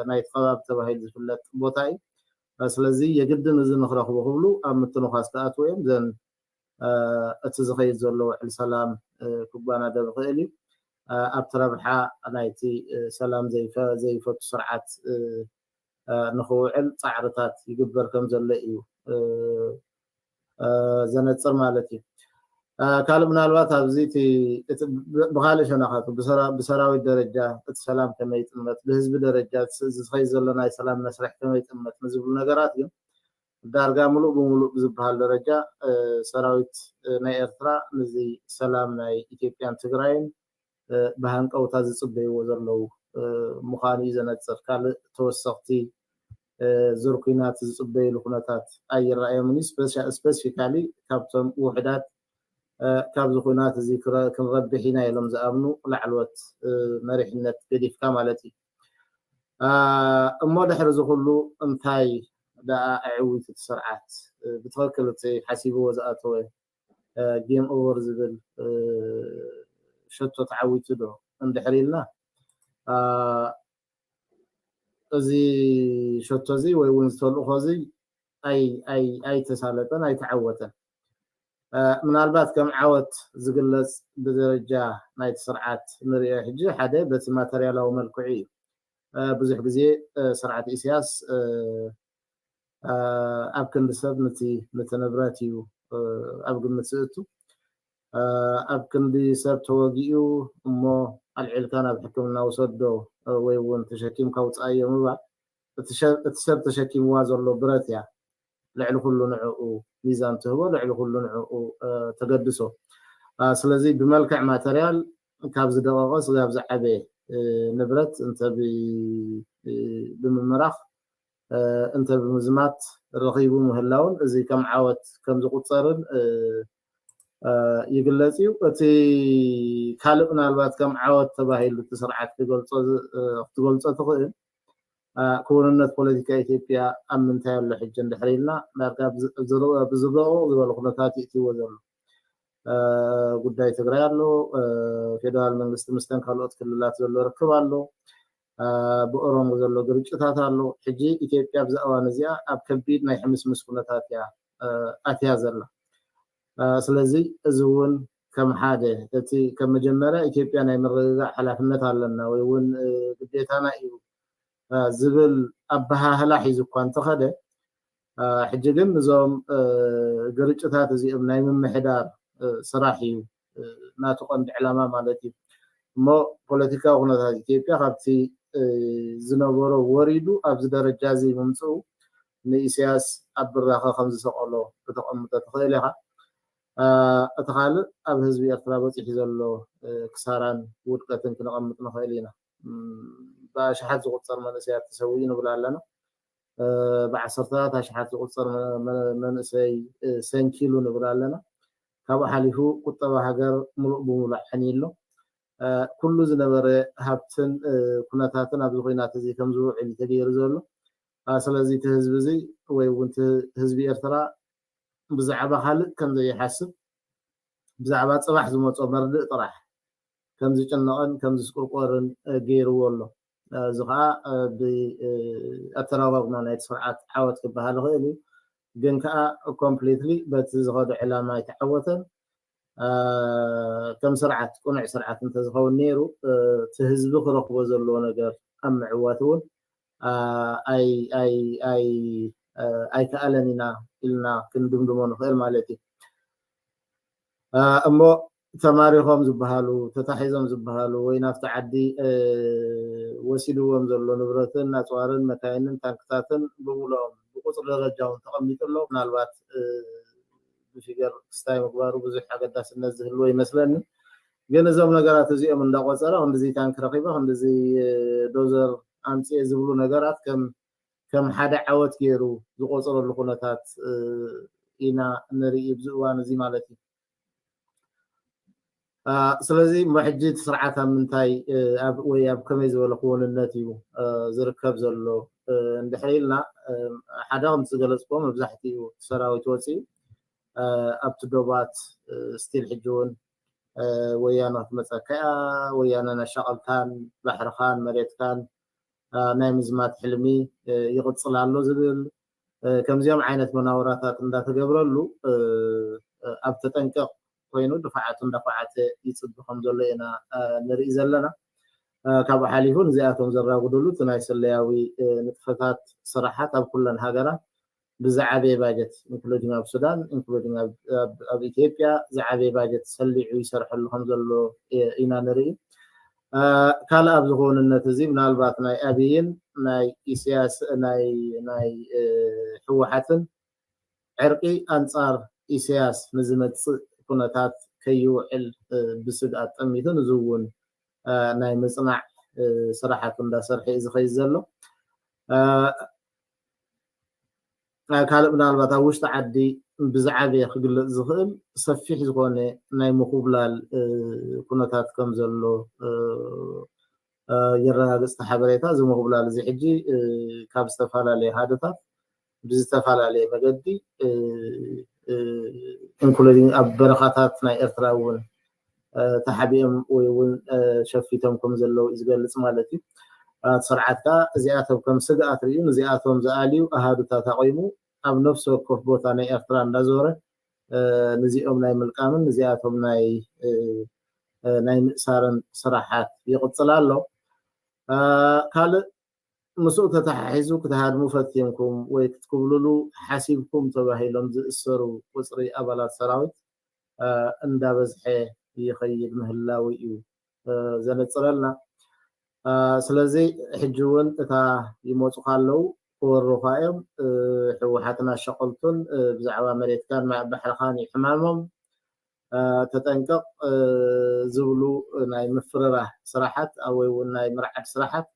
Speaker 3: ናይቲ ከባቢ ተባሂሉ ዝፍለጥ ቦታ እዩ። ስለዚ የግድን እዚ ንክረኽቡ ክብሉ ኣብ ምትንዃስ ክኣትዉ እዮም። ዘን እቲ ዝኸይድ ዘሎ ውዕል ሰላም ክጓናደብ ይኽእል እዩ። ኣብቲ ረብሓ ናይቲ ሰላም ዘይፈቱ ስርዓት ንኽውዕል ፃዕርታት ይግበር ከምዘሎ እዩ ዘነፅር ማለት እዩ። ካልእ ምናልባት ኣብዚ ብካልእ ሸነኻቱ ብሰራዊት ደረጃ እቲ ሰላም ከመይ ይጥመት፣ ብህዝቢ ደረጃ ዝኸይድ ዘሎ ናይ ሰላም መስርሕ ከመይ ይጥመት ንዝብሉ ነገራት ግን ዳርጋ ሙሉእ ብሙሉእ ብዝበሃል ደረጃ ሰራዊት ናይ ኤርትራ ንዚ ሰላም ናይ ኢትዮጵያን ትግራይን ብሃንቀውታ ዝጽበይዎ ዘለዉ ምዃኑ እዩ ዘነጽር። ካልእ ተወሰኽቲ ዙር ኲናት ዝጽበይሉ ኩነታት ኣይረኣዮምን እዩ። ስፐሲፊካሊ ካብቶም ውሑዳት ካብዚ ኲናት እዚ ክንረብሕ ኢና ኢሎም ዝኣምኑ ላዕለዎት መሪሕነት ገዲፍካ ማለት እዩ። እሞ ድሕሪ እዚ ኩሉ እንታይ ደኣ ኣዕዊቱ እቲ ስርዓት? ብትኽክል እቲ ሓሲብዎ ዝኣተወ ጌም ኦቨር ዝብል ሸቶ ተዓዊቱ ዶ እንድሕር ኢልና እዚ ሸቶ እዚ ወይ እውን ዝተልእኾ እዚ ኣይተሳለጠን ኣይተዓወተን ምናልባት ከም ዓወት ዝግለፅ ብደረጃ ናይቲ ስርዓት ንሪኦ ሕጂ ሓደ በቲ ማተርያላዊ መልክዑ እዩ ብዙሕ ግዜ ስርዓት ኢሳያስ ኣብ ክንዲ ሰብ ንቲ ንቲ ንብረት እዩ ኣብ ግምት ዝእቱ ኣብ ክንዲ ሰብ ተወጊኡ እሞ ኣልዒልካ ናብ ሕክምና ውሰዶ ወይ እውን ተሸኪምካ ውፃኣዮ ምባል እቲ ሰብ ተሸኪምዋ ዘሎ ብረት እያ ልዕሊ ኩሉ ንዕኡ ሚዛን ትህቦ ልዕሊ ኩሉ ንዕኡ ተገድሶ ስለዚ ብመልክዕ ማተርያል ካብ ዝደቐቐ ስጋብ ዝዓበየ ንብረት እንተ ብምምራኽ እንተ ብምዝማት ረኺቡ ምህላውን እዚ ከም ዓወት ከም ዝቑጸርን ይግለጽ እዩ። እቲ ካልእ ምናልባት ከም ዓወት ተባሂሉ እቲ ስርዓት ክትገልጾ ትኽእል ክውንነት ፖለቲካ ኢትዮጵያ ኣብ ምንታይ ኣሎ ሕጂ እንድሕር ኢልና ዳርጋ ብዝረኦ ዝበለ ኩነታት ይእትይዎ ዘሎ። ጉዳይ ትግራይ ኣሎ፣ ፌደራል መንግስቲ ምስተን ካልኦት ክልላት ዘሎ ርክብ ኣሎ፣ ብኦሮሞ ዘሎ ግርጭታት ኣሎ። ሕጂ ኢትዮጵያ ኣብዛ እዋን እዚኣ ኣብ ከቢድ ናይ ሕምስምስ ኩነታት እያ ኣትያ ዘላ። ስለዚ እዚ እውን ከም ሓደ እቲ ከም መጀመርያ ኢትዮጵያ ናይ ምርግጋእ ሓላፍነት ኣለና ወይ እውን ግዴታና እዩ ዝብል ኣበሃህላ ሒዙ እኳ እንተኸደ ሕጂ ግን እዞም ግርጭታት እዚኦም ናይ ምምሕዳር ስራሕ እዩ ናቱ ቀንዲ ዕላማ ማለት እዩ እሞ ፖለቲካዊ ኩነታት ኢትዮጵያ ካብቲ ዝነበሮ ወሪዱ ኣብዚ ደረጃ እዚ ምምፅኡ ንኢሳያስ ኣብ ብራኸ ከም ዝሰቀሎ ከተቐምጦ ትኽእል ኢኻ እቲ ካልእ ኣብ ህዝቢ ኤርትራ በፂሑ ዘሎ ክሳራን ውድቀትን ክነቐምጥ ንኽእል ኢና ብኣሽሓት ዝቁፀር መንእሰያት ተሰዊኡ ንብል ኣለና ብዓሰርተታት ኣሽሓት ዝቑጸር መንእሰይ ሰንኪሉ ንብል ኣለና። ካብኡ ሓሊፉ ቁጠባ ሃገር ምሉእ ብምሉእ ዓንዩ ኣሎ። ኩሉ ዝነበረ ሃብትን ኩነታትን ኣብዚ ኩናት እዚ ከም ዝውዕል እዩ ተገይሩ ዘሎ። ስለዚ እቲ ህዝቢ እዚ ወይ እውን እቲ ህዝቢ ኤርትራ ብዛዕባ ካልእ ከም ዘይሓስብ ብዛዕባ ጽባሕ ዝመጾ መርድእ ጥራሕ ከም ዝጭነቕን ከም ዝስቁርቆርን ገይርዎ ኣሎ። እዚ ከኣ ብኣተራጓጉማ ናይቲ ስርዓት ዓወት ክበሃል ይኽእል እዩ። ግን ከኣ ኮምፕሊትሊ በቲ ዝኸዶ ዕላማ ኣይተዓወተን። ከም ስርዓት ቅኑዕ ስርዓት እንተዝኸውን ነይሩ እቲ ህዝቢ ክረኽቦ ዘለዎ ነገር ኣብ ምዕዋት እውን ኣይከኣለን ኢና ኢልና ክንድምድሞ ንኽእል ማለት እዩ። እሞ ተማሪኾም ዝበሃሉ፣ ተታሒዞም ዝበሃሉ ወይ ናብቲ ዓዲ ወሲድዎም ዘሎ ንብረትን ኣፅዋርን መካይንን ታንክታትን ብምሉኦም ብቁፅሪ ደረጃ እውን ተቐሚጡ ኣሎ። ምናልባት ብፊገር ክስታይ ምግባሩ ብዙሕ ኣገዳስነት ዝህልዎ ይመስለኒ። ግን እዞም ነገራት እዚኦም እንዳቆፀረ ክንድዚ ታንክ ረኺበ ክንድዚ ዶዘር ኣምፂኤ ዝብሉ ነገራት ከም ከም ሓደ ዓወት ገይሩ ዝቆፅረሉ ኩነታት ኢና ንርኢ ኣብዚ እዋን እዚ ማለት እዩ። ስለዚ እሞ ሕጂ እቲ ስርዓት ኣብ ምንታይ ወይ ኣብ ከመይ ዝበለ ክውንነት እዩ ዝርከብ ዘሎ እንድሕር ኢልና ሓደ ከምቲ ዝገለፅክዎ መብዛሕትኡ ሰራዊት ወፂኡ ኣብቲ ዶባት ስቲል ሕጂ እውን ወያነ ክትመፀካ እያ ወያነ ናሻቐልካን ባሕርኻን መሬትካን ናይ ምዝማት ሕልሚ ይቕፅል ኣሎ ዝብል ከምዚኦም ዓይነት መናውራታት እንዳተገብረሉ ኣብ ተጠንቀቕ ኮይኑ ድፋዓቱ እንዳዃዓተ ይፅቢ ከምዘሎ ኢና ንሪኢ ዘለና። ካብኡ ሓሊፉ ንዚኣቶም ዘራጉድሉ እቲ ናይ ስለያዊ ንጥፈታት ስራሓት ኣብ ኩለን ሃገራት ብዝዓበየ ባጀት ኢንክሉዲንግ ኣብ ሱዳን ኢንክሉዲንግ ኣብ ኢትዮጵያ ዝዓበየ ባጀት ሰሊዑ ይሰርሐሉ ከምዘሎ ኢና ንሪኢ። ካልእ ኣብዚ ክውንነት እዚ ምናልባት ናይ ኣብይን ናይ ኢሳያስ ናይ ህወሓትን ዕርቒ ኣንጻር ኢሳያስ ንዝመጽእ ኩነታት ከይውዕል ብስግኣት ጠሚቱ ንዝውን ናይ ምጽናዕ ስራሓቱ እንዳሰርሐ እዩ ዝኸይድ ዘሎ። ካልእ ምናልባት ኣብ ውሽጢ ዓዲ ብዝዓበየ ክግለፅ ዝኽእል ሰፊሕ ዝኾነ ናይ ምኹብላል ኩነታት ከም ዘሎ የረጋግፅ እቲ ሓበሬታ። እዚ ምኹብላል እዚ ሕጂ ካብ ዝተፈላለየ ሃደታት ብዝተፈላለየ መገዲ ኢንክሉዲንግ ኣብ በረኻታት ናይ ኤርትራ እውን ተሓቢኦም ወይ እውን ሸፊቶም ከም ዘለዉ እዩ ዝገልጽ ማለት እዩ። እቲ ስርዓት ከኣ እዚኣቶም ከም ስግኣት ርእዩ ንዚኣቶም ዝኣልዩ ኣሃዱታት ኣቚሙ ኣብ ነፍሲ ወከፍ ቦታ ናይ ኤርትራ እንዳዞረ ንዚኦም ናይ ምልቃምን ንዚኣቶም ናይ ናይ ምእሳርን ስራሓት ይቕጽል ኣሎ። ካልእ ምስኡ ተተሓሒዙ ክትሃድሙ ፈቲንኩም ወይ ክትኩብልሉ ሓሲብኩም ተባሂሎም ዝእሰሩ ቁጽሪ ኣባላት ሰራዊት እንዳበዝሐ ይኸይድ ምህላዉ እዩ ዘነጽረልና። ስለዚ ሕጂ ውን እታ ይመጹኻ ኣለዉ ክወሩኻ እዮም ሕወሓትን ኣሻቀልቱን ብዛዕባ መሬትካን ማይ ባሕርኻን እዩ ሕማሞም ተጠንቀቅ ዝብሉ ናይ ምፍርራህ ስራሓት ኣወይ ውን ናይ ምርዓድ ስራሓት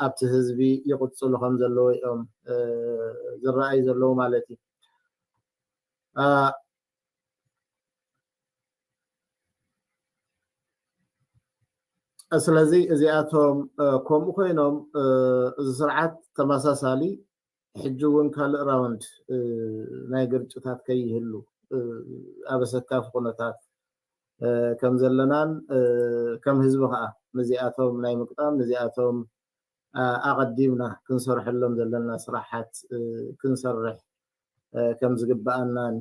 Speaker 3: ኣብቲ ህዝቢ ይቕጽሉ ከምዘለዉ እዮም ዝረኣዩ ዘለዉ ማለት እዩ። ስለዚ እዚኣቶም ከምኡ ኮይኖም እዚ ስርዓት ተመሳሳሊ ሕጂ እውን ካልእ ራውንድ ናይ ግርጭታት ከይህሉ ኣብ ኣሰካፊ ኩነታት ከም ዘለናን ከም ህዝቢ ከዓ ንዚኣቶም ናይ ምቅጣም ንዚኣቶም ኣቐዲምና ክንሰርሐሎም ዘለና ስራሓት ክንሰርሕ ከም ዝግበኣናን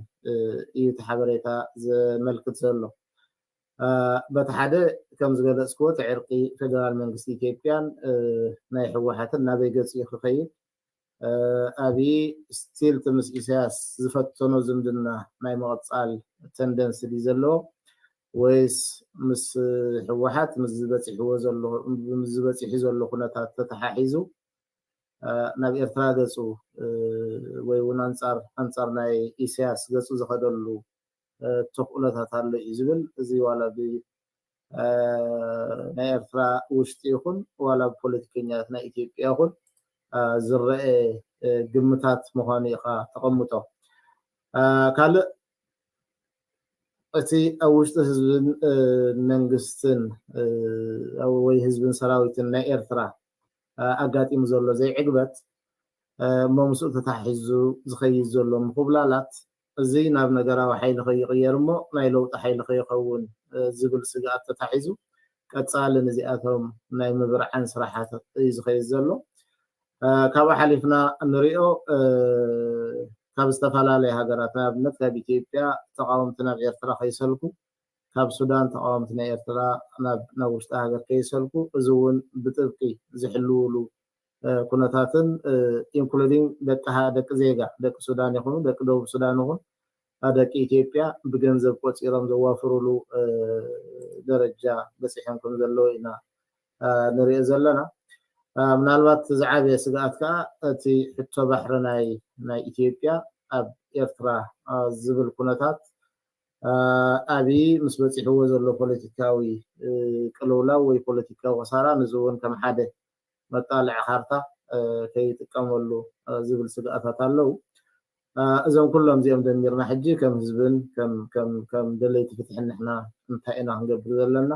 Speaker 3: እዩ እቲ ሓበሬታ ዘመልክት ዘሎ። በቲ ሓደ ከም ዝገለጽክዎ እቲ ዕርቂ ፌደራል መንግስቲ ኢትዮጵያን ናይ ህወሓትን ናበይ ገጽ እዩ ክኸይድ? ኣብዪ ስቲል እቲ ምስ ኢሳያስ ዝፈተኖ ዝምድና ናይ ምቕጻል ተንደንሲ ድዩ ዘለዎ ወይስ ምስ ህወሓት ምስዚ በጺሕዎ ዘሎ ምስዚ በጺሑ ዘሎ ኩነታት ተተሓሒዙ ናብ ኤርትራ ገጹ ወይ እውን ኣንጻር ኣንጻር ናይ ኢሰያስ ገጹ ዝኸደሉ ተኽእሎታት ኣሎ እዩ ዝብል እዚ ዋላ ብ ናይ ኤርትራ ውሽጢ ይኹን ዋላ ብፖለቲከኛታት ናይ ኢትዮጵያ ይኹን ዝረኤ ግምታት ምዃኑ ኢኻ ተቐምጦ ካልእ እቲ ኣብ ውሽጢ ህዝብን መንግስትን ወይ ህዝብን ሰራዊትን ናይ ኤርትራ ኣጋጢሙ ዘሎ ዘይዕግበት እሞ ምስኡ ተተሓሒዙ ዝኸይድ ዘሎ ምኹብላላት እዚ ናብ ነገራዊ ሓይሊ ከይቕየር እሞ ናይ ለውጢ ሓይሊ ከይኸውን ዝብል ስግኣት ተታሒዙ ቀጻሊ ንዚኣቶም ናይ ምብርዓን ስራሓት እዩ ዝኸይድ ዘሎ። ካብኡ ሓሊፍና እንሪኦ ካብ ዝተፈላለየ ሃገራት ንኣብነት ካብ ኢትዮጵያ ተቓወምቲ ናብ ኤርትራ ከይሰልኩ ካብ ሱዳን ተቓወምቲ ናይ ኤርትራ ናብ ናብ ውሽጢ ሃገር ከይሰልኩ እዚ ውን ብጥብቂ ዝሕልውሉ ኩነታትን including ደቂ ደቂ ዜጋ ደቂ ሱዳን ይኹኑ ደቂ ደቡብ ሱዳን ይኹን ደቂ ኢትዮጵያ ብገንዘብ ቆጺሮም ዘዋፍሩሉ ደረጃ በጺሖም ከም ዘለዉ ኢና ንሪኦ ዘለና ምናልባት ዝዓበየ ስግኣት ከዓ እቲ ሕቶ ባሕሪ ናይ ናይ ኢትዮጵያ ኣብ ኤርትራ ዝብል ኩነታት ኣብዪ ምስ በፂሕዎ ዘሎ ፖለቲካዊ ቅልውላው ወይ ፖለቲካዊ ክሳራ ንዚ እውን ከም ሓደ መጣልዒ ካርታ ከይጥቀመሉ ዝብል ስግኣታት ኣለው። እዞም ኩሎም እዚኦም ደሚርና ሕጂ ከም ህዝብን ከም ደለይቲ ፍትሕን ንሕና እንታይ ኢና ክንገብር ዘለና?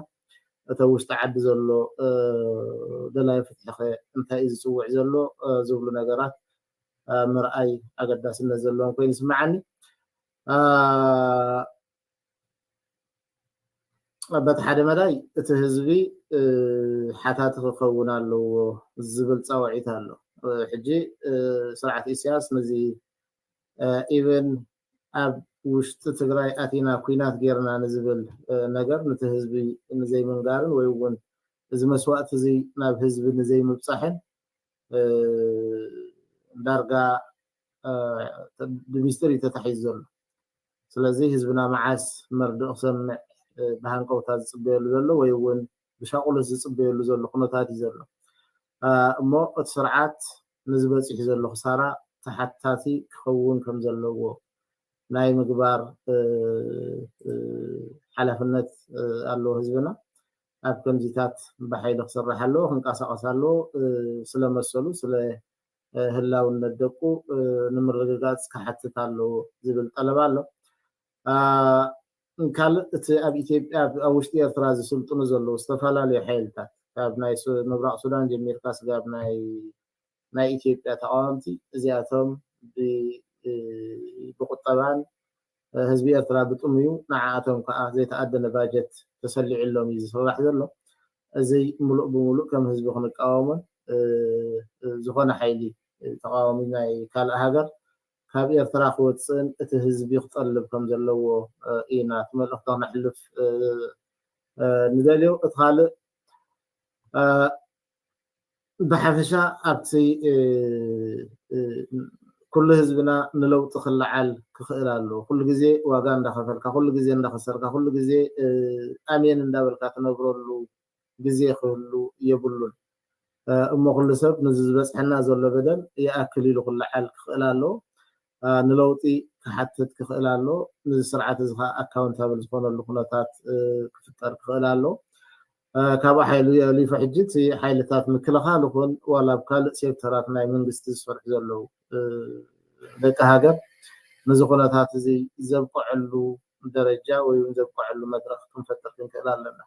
Speaker 3: እቲ ኣብ ውሽጢ ዓዲ ዘሎ ደላይ ፍትሒ ከ እንታይ እዩ ዝፅውዕ ዘሎ? ዝብሉ ነገራት ምርኣይ ኣገዳስነት ዘለዎም ኮይኑ ይስመዓኒ። በቲ ሓደ መዳይ እቲ ህዝቢ ሓታቲ ክኸውን ኣለዎ ዝብል ፃውዒት ኣሎ ሕጂ ስርዓት ኢሳያስ ነዚ ኢቨን ኣብ ውሽጢ ትግራይ ኣቲና ኩናት ጌርና ንዝብል ነገር ነቲ ህዝቢ ንዘይምንጋርን ወይ እውን እዚ መስዋእቲ እዚ ናብ ህዝቢ ንዘይምብፃሕን ዳርጋ ብሚስጥር እዩ ተታሒዙ ዘሎ ስለዚ ህዝብና መዓስ መርድእ ክሰምዕ ብሃንቀውታ ዝፅበየሉ ዘሎ ወይ እውን ብሻቁሎት ዝፅበየሉ ዘሎ ኩነታት እዩ ዘሎ እሞ እቲ ስርዓት ነዚ በፂሑ ዘሎ ክሳራ ተሓታቲ ክኸውን ከም ዘለዎ ናይ ምግባር ሓላፍነት ኣለዎ ህዝብና ኣብ ከምዚታት ብሓይሊ ክስራሕ ኣለዎ ክንቀሳቀስ ኣለዎ ስለመሰሉ ስለ ህላውነት ደቁ ንምርግጋፅ ክሓትት ኣለዎ ዝብል ጠለብ ኣሎ። ካልእ እቲ ኣብ ኢትዮጵያ ኣብ ውሽጢ ኤርትራ ዝስልጥኑ ዘለዉ ዝተፈላለዩ ሓይልታት ካብ ናይ ምብራቕ ሱዳን ጀሚርካ ስጋብ ናይ ናይ ኢትዮጵያ ተቃወምቲ እዚኣቶም ብቁጠባን ህዝቢ ኤርትራ ብጥሙዩ ንዓኣቶም ካኣ ዘይተኣደነ ባጀት ተሰሊዑሎም ኢዩ ዝስራሕ ዘሎ እዚ ሙሉእ ብሙሉእ ከም ህዝቢ ክንቃወሞን ዝኮነ ሓይሊ ተቃዋሚ ናይ ካልእ ሃገር ካብ ኤርትራ ክወጽእን እቲ ህዝቢ ክጠልብ ከም ዘለዎ ኢና እቲ መልእክቲ ክነሕልፍ ንደልዮ እቲ ካልእ ብሓፈሻ ኣብቲ ኩሉ ህዝብና ንለውጢ ክለዓል ክኽእል ኣለዎ። ኩሉ ግዜ ዋጋ እንዳኸፈልካ፣ ኩሉ ግዜ እንዳኸሰርካ፣ ኩሉ ግዜ ኣሜን እንዳበልካ ትነብረሉ ግዜ ክህሉ የብሉን። እሞ ኩሉ ሰብ ነዚ ዝበፅሐና ዘሎ በደል ይኣክል ኢሉ ክለዓል ክኽእል ኣለዎ። ከኣ ንለውጢ ክሓትት ክኽእል ኣሎ። ንዚ ስርዓት እዚ ከኣ ኣካውንታብል ዝኾነሉ ኩነታት ክፍጠር ክኽእል ኣሎ። ካብኡ ሓሊፉ ሕጂ እቲ ሓይልታት ምክልኻል ይኹን ዋላ ኣብ ካልእ ሴክተራት ናይ መንግስቲ ዝሰርሑ ዘለዉ ደቂ ሃገር ነዚ ኩነታት እዚ ዘብቅዕሉ ደረጃ ወይ እውን ዘብቅዕሉ መድረኽ ክንፈጥር ክንክእል ኣለና።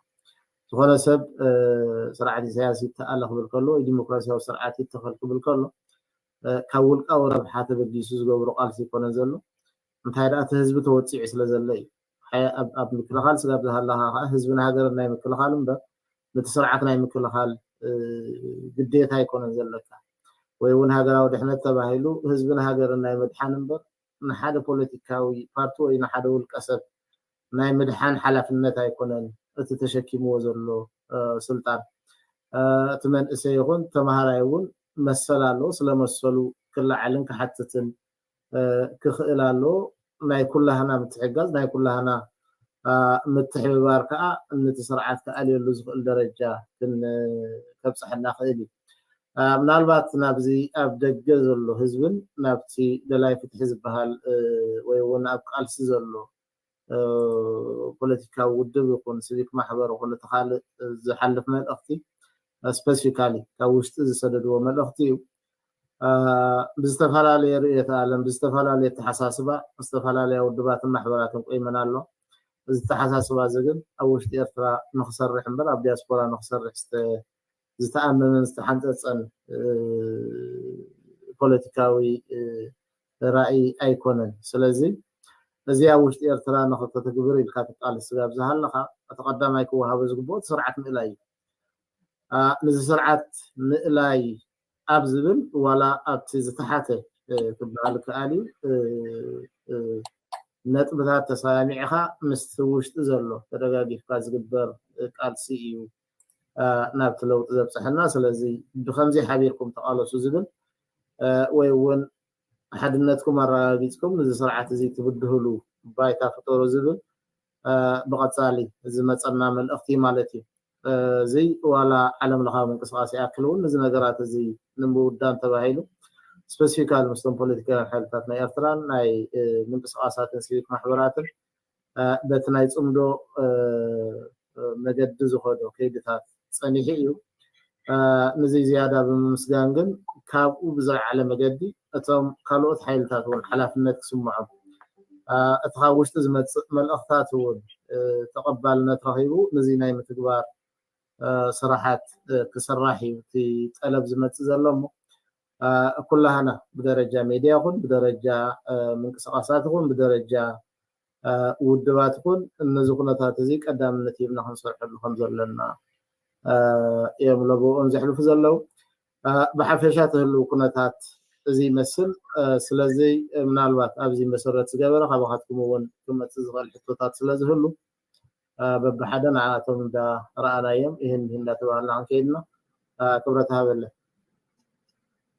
Speaker 3: ዝኾነ ሰብ ስርዓት ኢሳያስ ይተኣለ ክብል ከሎ ወይ ዲሞክራስያዊ ስርዓት ይተኸል ክብል ከሎ ካብ ውልቃዊ ረብሓ ተበጊሱ ዝገብሮ ቃልሲ ኣይኮነን ዘሎ እንታይ ደኣ እቲ ህዝቢ ተወጺዑ ስለ ዘሎ እዩ ሓያእ ኣብ ምክልኻል ስጋብ ዝሃላኻ ከኣ ህዝብን ሃገርን ናይ ምክልኻል እምበር ነቲ ስርዓት ናይ ምክልኻል ግዴታ ኣይኮነን ዘለካ ወይ እውን ሃገራዊ ድሕነት ተባሂሉ ህዝብን ሃገርን ናይ ምድሓን እምበር ንሓደ ፖለቲካዊ ፓርቲ ወይ ንሓደ ውልቀ ሰብ ናይ ምድሓን ሓላፍነት ኣይኮነን እቲ ተሸኪምዎ ዘሎ ስልጣን። እቲ መንእሰይ ይኹን ተምሃራይ እውን መሰል ኣለዎ፣ ስለ መሰሉ ክለዓልን ክሓትትን ክኽእል ኣለዎ። ናይ ኩላህና ምትሕግጋዝ፣ ናይ ኩላህና ምትሕብባር ከኣ ነቲ ስርዓት ክኣልየሉ ዝኽእል ደረጃ ከብጸሐና ክእል እዩ። ምናልባት ናብዚ ኣብ ደገ ዘሎ ህዝብን ናብቲ ደላይ ፍትሒ ዝበሃል ወይ እውን ኣብ ቃልሲ ዘሎ ፖለቲካዊ ውድብ ይኹን ሲቪክ ማሕበር ይኹን እቲ ካልእ ዝሓልፍ መልእኽቲ ስፐሲፊካሊ ካብ ውሽጢ ዝሰደድዎ መልእኽቲ እዩ ብዝተፈላለየ ርእየት ዓለም ብዝተፈላለየ ኣተሓሳስባ ዝተፈላለያ ውድባትን ማሕበራትን ቆይመን ኣሎ እዚ ኣተሓሳስባ እዚ ግን ኣብ ውሽጢ ኤርትራ ንክሰርሕ እምበር ኣብ ዲያስፖራ ንክሰርሕ ዝተኣመመን ዝተሓንጸጸን ፖለቲካዊ ራኢ ኣይኮነን። ስለዚ እዚ ኣብ ውሽጢ ኤርትራ ንክተተግብር ኢልካ ትቃለስ ስጋብ ዝሃለኻ እቲ ቀዳማይ ክወሃቦ ዝግብኦ እቲ ስርዓት ምእላይ እዩ። ንዚ ስርዓት ምእላይ ኣብ ዝብል ዋላ ኣብቲ ዝተሓተ ክበሃል ይከኣል እዩ ነጥብታት ተሰማሚዕኻ ምስቲ ውሽጢ ዘሎ ተደጋጊፍካ ዝግበር ቃልሲ እዩ ናብቲ ለውጢ ዘብፀሐና ስለዚ ብከምዚ ሓቢርኩም ተቃለሱ ዝብል ወይ እውን ሓድነትኩም ኣረጋጊፅኩም ንዚ ስርዓት እዚ ትብድህሉ ባይታ ፍጠሩ ዝብል ብቀፃሊ ዝመፀና መልእክቲ እዩ ማለት እዩ። እዚ ዋላ ዓለም ለኻዊ ምንቅስቃስ ይኣክል እውን ንዚ ነገራት እዚ ንምውዳን ተባሂሉ ስፐሲፊካሊ ምስቶም ፖለቲካውያን ሓይልታት ናይ ኤርትራን ናይ ምንቅስቃሳትን ሲቪክ ማሕበራትን በቲ ናይ ጽምዶ መገዲ ዝኸዶ ከይድታት ጸኒሑ እዩ። ንዚ ዝያዳ ብምምስጋን ግን ካብኡ ብዝለዓለ መገዲ እቶም ካልኦት ሓይልታት እውን ሓላፍነት ክስምዖም እቲ ካብ ውሽጢ ዝመጽእ መልእኽታት እውን ተቐባልነት ረኺቡ ንዚ ናይ ምትግባር ስራሓት ክስራሕ እዩ እቲ ጠለብ ዝመጽእ ዘሎ እሞ ኩላህና ብደረጃ ሜድያ ይኹን ብደረጃ ምንቅስቃሳት ይኹን ብደረጃ ውድባት ይኹን ነዚ ኩነታት እዚ ቀዳምነት ሂብና ክንሰርሐሉ ከም ዘለና እዮም ለበኦም ዘሕልፉ ዘለው ብሓፈሻ ትህልው ኩነታት እዚ ይመስል ስለዚ ምናልባት ኣብዚ መሰረት ዝገበረ ካባኻትኩም እውን ክመፅእ ዝኽእል ሕቶታት ስለዝህሉ በብሓደ ንዓኣቶም እንዳ ረኣናዮም ኢህን ምሂን እንዳ ተባሃልና ክንከይድና ክብረት ሃበለይ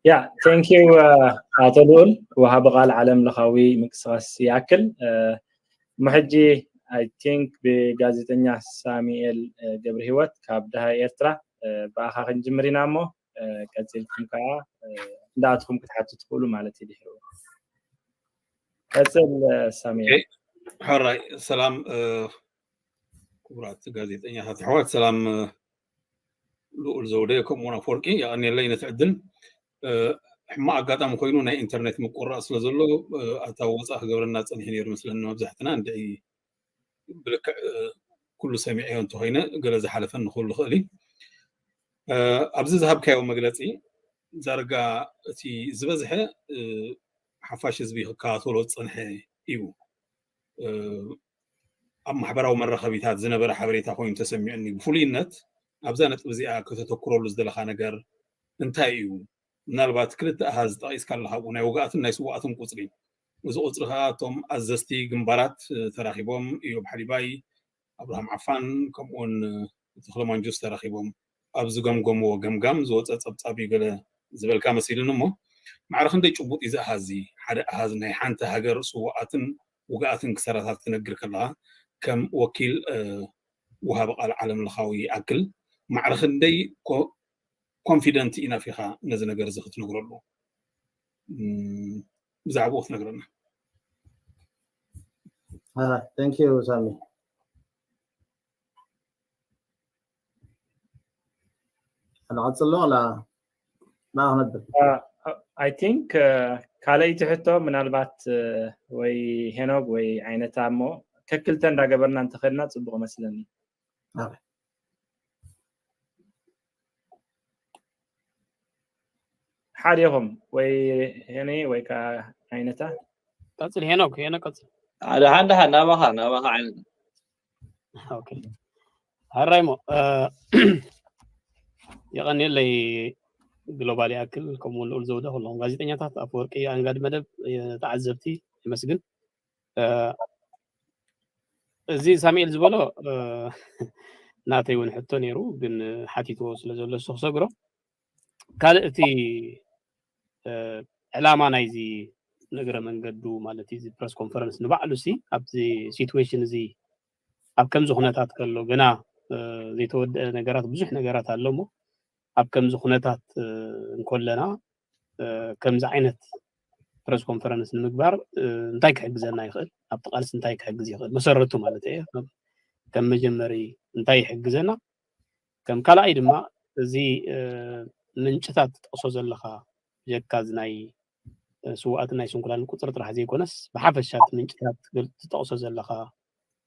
Speaker 2: ያ ቴንኪዩ ኣቶ ልኡል ወሃቢ ቃል ዓለም ለኻዊ ምንቅስቃስ ይኣክል ምሕጂ ኣይ ቲንክ ብጋዜጠኛ ሳሙኤል ገብረ ህይወት ካብ ድሃ ኤርትራ ብኣኻ ክንጅምር ኢና እሞ ቀፂልኩም ከዓ እንዳኣትኹም ክትሓቱ ትኽእሉ ማለት እዩ ድሕሩ ቀፅል ሳሚ ሕራይ
Speaker 4: ሰላም ክቡራት ጋዜጠኛታት ኣሕዋት ሰላም ልኡል ዘውደ ከምኡውን ኣፈወርቂ የቀኒለይ ነቲ ዕድል ሕማቅ ኣጋጣሚ ኮይኑ ናይ ኢንተርኔት ምቁራፅ ስለ ዘሎ ኣታ ወፃእ ክገብረና ፀኒሑ ነይሩ ምስለኒ መብዛሕትና እንድዒ ብልክዕ ኩሉ ሰሚዐዮ እንተኮይነ ገለ ዝሓለፈኒ ክህሉ ይኽእል እዩ ኣብዚ ዝሃብካዮ መግለፂ ዳርጋ እቲ ዝበዝሐ ሓፋሽ ህዝቢ ክከታተሎ ዝፀንሐ እዩ ኣብ ማሕበራዊ መራኸቢታት ዝነበረ ሓበሬታ ኮይኑ ተሰሚዑኒ ብፍሉይነት ኣብዛ ነጥቢ እዚኣ ከተተኩረሉ ዝደለካ ነገር እንታይ እዩ ምናልባት ክልተ ኣሃዝ ጠቒስካ ኣለኻ እሞ፣ ናይ ውጉኣትን ናይ ስዉኣትን ቁጽሪ። እዚ ቁጽሪ ከኣ እቶም ኣዘዝቲ ግንባራት ተራኺቦም፣ እዮብ ሓሊባይ፣ ኣብርሃም ዓፋን ከምኡውን ተኽለ ማንጁስ ተራኺቦም ኣብ ዝገምገምዎ ገምጋም ዝወጸ ጸብጻብ እዩ ገለ ዝበልካ መሲልኒ እሞ፣ ማዕረ ክንደይ ጭቡጥ እዩ እዚ ኣሃዝ እዚ? ሓደ ኣሃዝ ናይ ሓንቲ ሃገር ስዉኣትን ውጉኣትን ክሳራታት ክትነግር ከለኻ ከም ወኪል ወሃቢ ቃል ዓለምለኻዊ ይኣክል ማዕረ ክንደይ ኮንፊደንት ኢናፍ ኢኻ ነዚ ነገር እዚ ክትነግረሉ ብዛዕባኡ ክትነግረና ቴንክ
Speaker 3: ዩ ሳሚ ንቐፅሎ ዋላ ንኣ ክነብር ኣይ
Speaker 2: ቲንክ ካልኣይቲ ሕቶ ምናልባት ወይ ሄኖግ ወይ ዓይነታ እሞ ከክልተ እንዳገበርና እንተኸድና ፅቡቅ መስለኒ ሓደ ይኹም ወይ ሄኒ ወይ ከዓ ዓይነታ ቀፅል
Speaker 5: ሄኖክ ሄኖ ቀፅል ሓደ ሓደ ሓደ
Speaker 6: ናባኻ ናባኻ ዓይነት
Speaker 5: ኦኬ ሀራይሞ የቐኒለይ ግሎባል ይኣክል ከምኡ ልኡል ዘውደ ኩሎም ጋዜጠኛታት ኣፈወርቂ ኣንጋዲ መደብ ተዓዘብቲ የመስግን እዚ ሳሙኤል ዝበሎ ናተይ እውን ሕቶ ነይሩ ግን ሓቲትዎ ስለ ዘሎ እሱ ክሰግሮ ካልእ እቲ ዕላማ ናይዚ ንእግረ መንገዱ ማለት እዚ ፕረስ ኮንፈረንስ ንባዕሉ ሲ ኣብዚ ሲትዌሽን እዚ ኣብ ከምዚ ኩነታት ከሎ ገና ዘይተወደአ ነገራት ብዙሕ ነገራት ኣሎ እሞ ኣብ ከምዚ ኩነታት እንከለና ከምዚ ዓይነት ፕረስ ኮንፈረንስ ንምግባር እንታይ ክሕግዘና ይኽእል ኣብቲ ቃልሲ እንታይ ክሕግዝ ይኽእል መሰረቱ ማለት እየ ከም መጀመሪ እንታይ ይሕግዘና ከም ካልኣይ ድማ እዚ ምንጭታት ትጠቕሶ ዘለኻ ጀካ እዚ ናይ ስዋኣትን ናይ ስንኩላን ቁፅሪ ጥራሕ ዘይኮነስ ብሓፈሻ እቲ ምንጭታት ትጠቕሶ ዘለኻ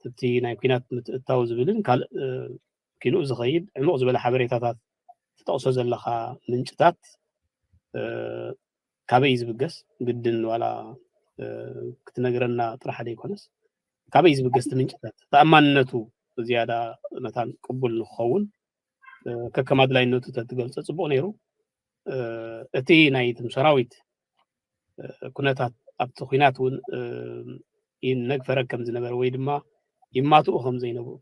Speaker 5: እቲ ናይ ኩናት ምትእታው ዝብልን ካልእ ኪንኡ ዝኸይድ ዕሙቕ ዝበለ ሓበሬታታት ትጠቕሶ ዘለኻ ምንጭታት ካበይ እዩ ዝብገስ ግድን ዋላ ክትነግረና ጥራሕ ዘይኮነስ ካበይ እዩ ዝብገስ እቲ ምንጭታት ተኣማንነቱ ዝያዳ መታን ቅቡል ንክኸውን ከከም ኣድላይነቱ ተትገልፀ ፅቡቕ ነይሩ እቲ ናይ ትም ሰራዊት ኩነታት ኣብቲ ኩናት እውን ይነግፈረ ከም ዝነበረ ወይ ድማ ይማትኡ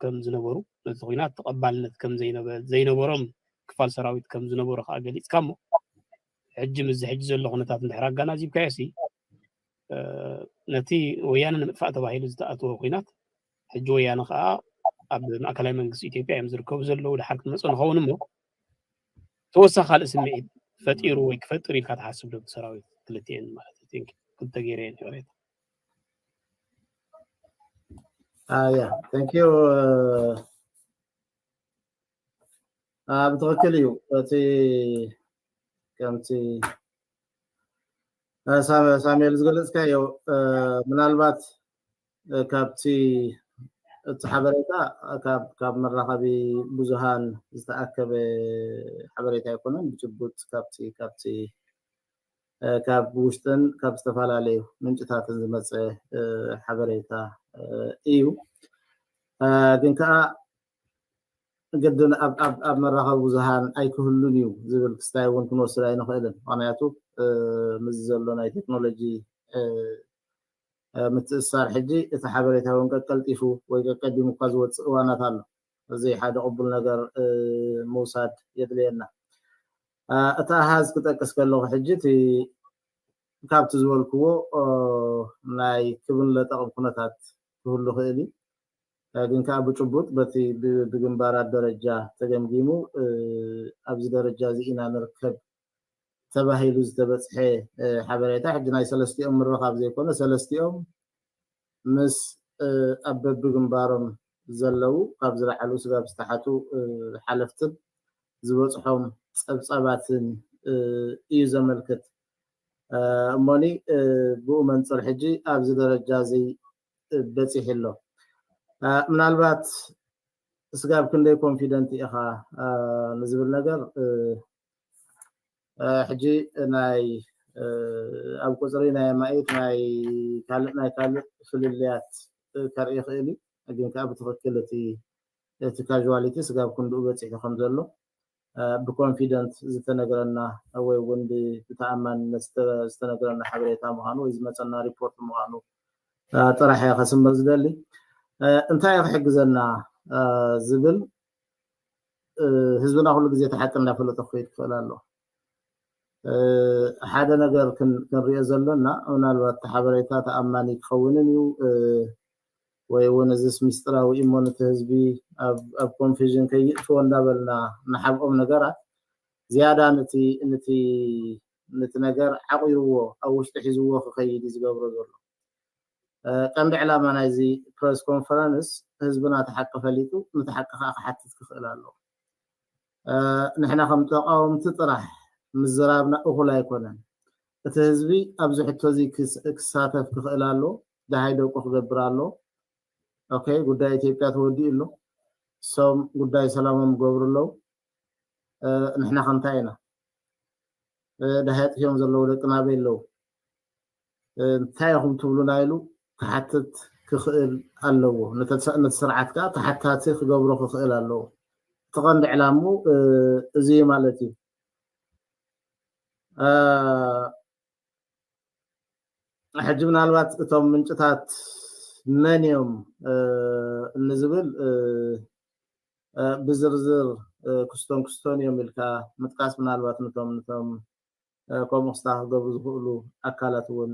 Speaker 5: ከም ዝነበሩ ነቲ ኩናት ተቐባልነት ከም ዘይነበሮም ክፋል ሰራዊት ከም ዝነበሩ ከዓ ገሊፅካ እሞ ሕጂ ምስዚ ሕጂ ዘሎ ኩነታት እንድሕር ኣጋናዚብካዮ ሲ ነቲ ወያነ ንምጥፋእ ተባሂሉ ዝተኣተወ ኩናት ሕጂ ወያነ ከዓ ኣብ ማእከላይ መንግስቲ ኢትዮጵያ እዮም ዝርከቡ ዘለዉ ድሓር ክንመፅእ ንኸውን እሞ ተወሳኺ ካልእ ስምዒት ፈጢሩ ወይ ክፈጥር ኢልካ ትሓስብ ዶ ብሰራዊት ክልቲኤን ማለት እዩ ክልተ ገይረ እየን ይቕሬታ
Speaker 3: ኣያ ታንክ ዩ ብትኽክል እዩ እቲ ከምቲ ሳሙኤል ዝገለፅካዮ ምናልባት ካብቲ እቲ ሓበሬታ ካብ መራኸቢ ብዙሃን ዝተኣከበ ሓበሬታ ኣይኮነን ብጭቡጥ ካብቲ ካብቲ ካብ ውሽጥን ካብ ዝተፈላለዩ ምንጭታትን ዝመፀ ሓበሬታ እዩ ግን ከዓ ግድን ኣብ መራኸቢ ብዙሃን ኣይክህሉን እዩ ዝብል ክስታይ እውን ክንወስድ ኣይንኽእልን ምክንያቱ ምስዚ ዘሎ ናይ ቴክኖሎጂ ምትእስሳር ሕጂ እቲ ሓበሬታ ውን ቀቀልጢፉ ወይ ቀቀዲሙ እኳ ዝወጽእ እዋናት ኣሎ። እዚ ሓደ ቅቡል ነገር ምውሳድ የድልየና። እቲ ኣሃዝ ክጠቅስ ከለኹ ሕጂ እቲ ካብቲ ዝበልክዎ ናይ ክብን ለጠቕን ኩነታት ክህሉ ይኽእል እዩ። ግን ከኣ ብጭቡጥ በቲ ብግንባራት ደረጃ ተገምጊሙ ኣብዚ ደረጃ እዚ ኢና ንርከብ ተባሂሉ ዝተበጽሐ ሓበሬታ ሕጂ ናይ ሰለስቲኦም ምርኻብ ዘይኮነ ሰለስቲኦም ምስ ኣብ በብግንባሮም ዘለው ካብ ዝለዓሉ ስጋብ ዝተሓቱ ሓለፍትን ዝበጽሖም ጸብጻባትን እዩ ዘመልክት እሞኒ ብኡ መንፅር ሕጂ ኣብዚ ደረጃ እዚ በፂሑ ኣሎ ምናልባት ስጋብ ክንደይ ኮንፊደንት ኢኻ ንዝብል ነገር ሕጂ ናይ ኣብ ቁፅሪ ናይ ኣማኢት ናይ ካልእ ናይ ካልእ ፍልልያት ከርኢ ይኽእል እዩ ግን ከዓ ብትኽክል እቲ እቲ ካዥዋሊቲ ስጋብ ክንድኡ በፂሑ ከም ዘሎ ብኮንፊደንት ዝተነገረና ወይ እውን ብተኣማንነት ዝተነገረና ሓበሬታ ምዃኑ ወይ ዝመፀና ሪፖርት ምዃኑ ጥራሕ እየ ከስምር ዝደሊ እንታይ ክሕግዘና ዝብል ህዝብና ኩሉ ግዜ እቲ ሓቂ እንዳፈለጠ ክኸይድ ክኽእል ኣለዎ ሓደ ነገር ክንሪኦ ዘለና ምናልባት እቲ ሓበሬታ ተኣማኒ ክኸውንን እዩ ወይ እውን እዚስ ሚስጥራዊ እሞ ነቲ ህዝቢ ኣብ ኮንፊዥን ከይእትዎ እንዳበልና ንሓብኦም ነገራት ዝያዳ ነቲ ነገር ዓቑርዎ ኣብ ውሽጢ ሒዝዎ ክኸይድ እዩ ዝገብሮ ዘሎ ቀንዲ ዕላማ ናይዚ ፕረስ ኮንፈረንስ ህዝብና እቲ ሓቂ ፈሊጡ ንቲ ሓቂ ከኣ ክሓትት ክኽእል ኣለዎ። ንሕና ከም ተቓወምቲ ጥራሕ ምዝራብና እኹል ኣይኮነን። እቲ ህዝቢ ኣብዚ ሕቶ እዚ ክሳተፍ ክኽእል ኣለዎ። ደሃይ ደቁ ክገብር ኣለዎ። ኦኬ ጉዳይ ኢትዮጵያ ተወዲኡ ኣሎ። እሶም ጉዳይ ሰላሞም ይገብሩ ኣለዉ። ንሕና ከ እንታይ ኢና? ደሃይ ኣጥፊኦም ዘለዉ ደቅና ኣበይ ኣለዉ? እንታይ ኢኹም ትብሉና ኢሉ ክሓትት ክኽእል ኣለዎ። ነቲ ስርዓት ከኣ ተሓታቲ ክገብሮ ክኽእል ኣለዎ። እቲ ቀንዲ ዕላምኡ እዚ እዩ ማለት እዩ። ሕጂ ምናልባት እቶም ምንጭታት መን እዮም ንዝብል ብዝርዝር ክስቶን ክስቶን እዮም ኢልካ ምጥቃስ ምናልባት ነቶም ነቶም ከምኡ ክስታ ክገብሩ ዝኽእሉ ኣካላት እውን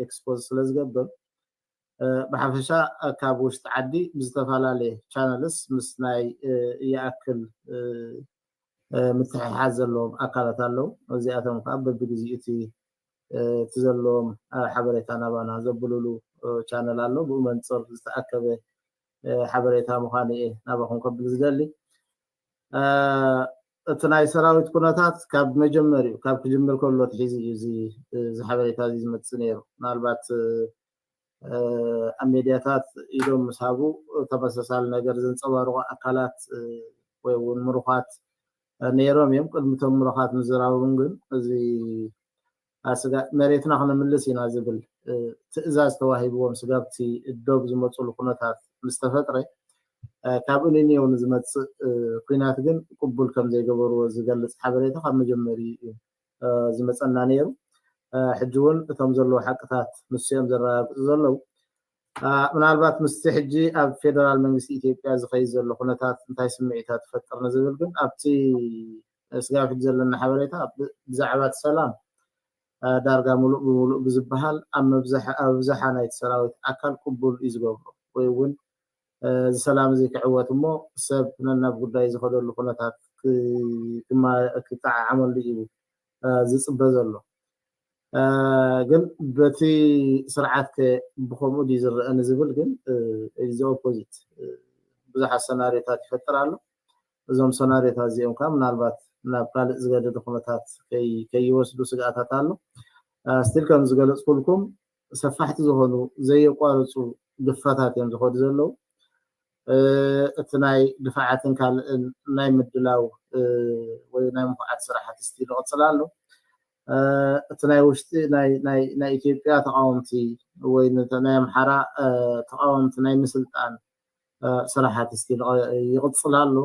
Speaker 3: ኤክስፖዝ ስለ ዝገብር ብሓፈሻ ካብ ውሽጢ ዓዲ ብዝተፈላለየ ቻነልስ ምስ ናይ ይኣክል ምትሕሓዝ ዘለዎም ኣካላት ኣለዉ እዚኣቶም ከዓ በብግዜኡ እቲ እቲ ዘለዎም ሓበሬታ ናባና ዘብሉሉ ቻነል ኣሎ ብኡ መንፅር ዝተኣከበ ሓበሬታ ምዃኑ እየ ናባኹም ከብል ዝደሊ እቲ ናይ ሰራዊት ኩነታት ካብ መጀመሪኡ ካብ ክጅምር ከሎ ትሒዙ እዩ እዚ ሓበሬታ እዚ ዝመፅእ ነይሩ ምናልባት ኣብ ሜድያታት ኢዶም ምስ ሃቡ ተመሳሳሊ ነገር ዘንፀባርቑ ኣካላት ወይ እውን ምሩኻት ነይሮም እዮም ቅድሚቶም ምሩኻት ምዝራቦም ግን እዚ ኣስጋእ መሬትና ክነምልስ ኢና ዝብል ትእዛዝ ተዋሂብዎም ስጋብቲ ዶብ ዝመፁሉ ኩነታት ምስ ተፈጥረ ካብ እልኒዮ ንዝመፅእ ኩናት ግን ቅቡል ከም ዘይገበርዎ ዝገልፅ ሓበሬታ ካብ መጀመሪኡ እዩ ዝመፀና ነይሩ። ሕጂ እውን እቶም ዘለዉ ሓቅታት ንሱ እዮም ዘረጋግፁ ዘለዉ። ምናልባት ምስቲ ሕጂ ኣብ ፌደራል መንግስቲ ኢትዮጵያ ዝኸይድ ዘሎ ኩነታት እንታይ ስምዒታት ይፈጥር ንዝብል ግን ኣብቲ ስጋብ ሕጂ ዘለና ሓበሬታ ብዛዕባ እቲ ሰላም ዳርጋ ምሉእ ብምሉእ ብዝበሃል ኣብ ኣብዝሓ ናይቲ ሰራዊት ኣካል ቅቡል እዩ ዝገብሮ ወይ እውን እዚ ሰላም እዚ ክዕወት እሞ ሰብ ነናብ ጉዳዩ ዝኸደሉ ኩነታት ክጠዓዓመሉ እዩ ዝፅበ ዘሎ ግን በቲ ስርዓት ከ ብከምኡ ድዩ ዝረአ ንዝብል ግን እዚ ኦፖዚት ብዙሓት ሰናሪዮታት ይፈጥር ኣሎ እዞም ሰናርዮታት እዚኦም ከኣ ምናልባት ናብ ካልእ ዝገደደ ኩነታት ከይወስዱ ስግኣታት ኣሎ። ስቲል ከም ዝገለጽኩልኩም ሰፋሕቲ ዝኾኑ ዘየቋርጹ ግፋታት እዮም ዝኸዱ ዘለዉ። እቲ ናይ ድፋዓትን ካልእን ናይ ምድላው ወይ ናይ ምኹዓት ስራሓት ስቲል ይቕጽል ኣሎ። እቲ ናይ ውሽጢ ናይ ኢትዮጵያ ተቃወምቲ ወይ ናይ ኣምሓራ ተቃወምቲ ናይ ምስልጣን ስራሓት ስቲል ይቕፅል ኣሎ።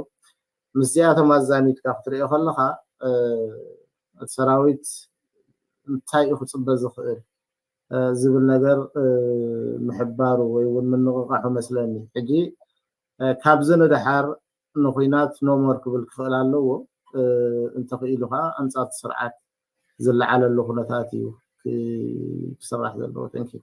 Speaker 3: ምስዚኣቶም ኣዛሚድካ ክትሪኦ ከለኻ እቲ ሰራዊት እንታይ እዩ ክፅበ ዝኽእል ዝብል ነገር ምሕባሩ ወይ እውን ምንቕቓሑ መስለኒ። ሕጂ ካብዚ ንደሓር ንኹናት ኖሞር ክብል ክኽእል ኣለዎ። እንተኽኢሉ ከዓ ኣንፃር እቲ ስርዓት ዝለዓለሉ ኩነታት እዩ ክስራሕ ዘለዎ። ተንኪዩ።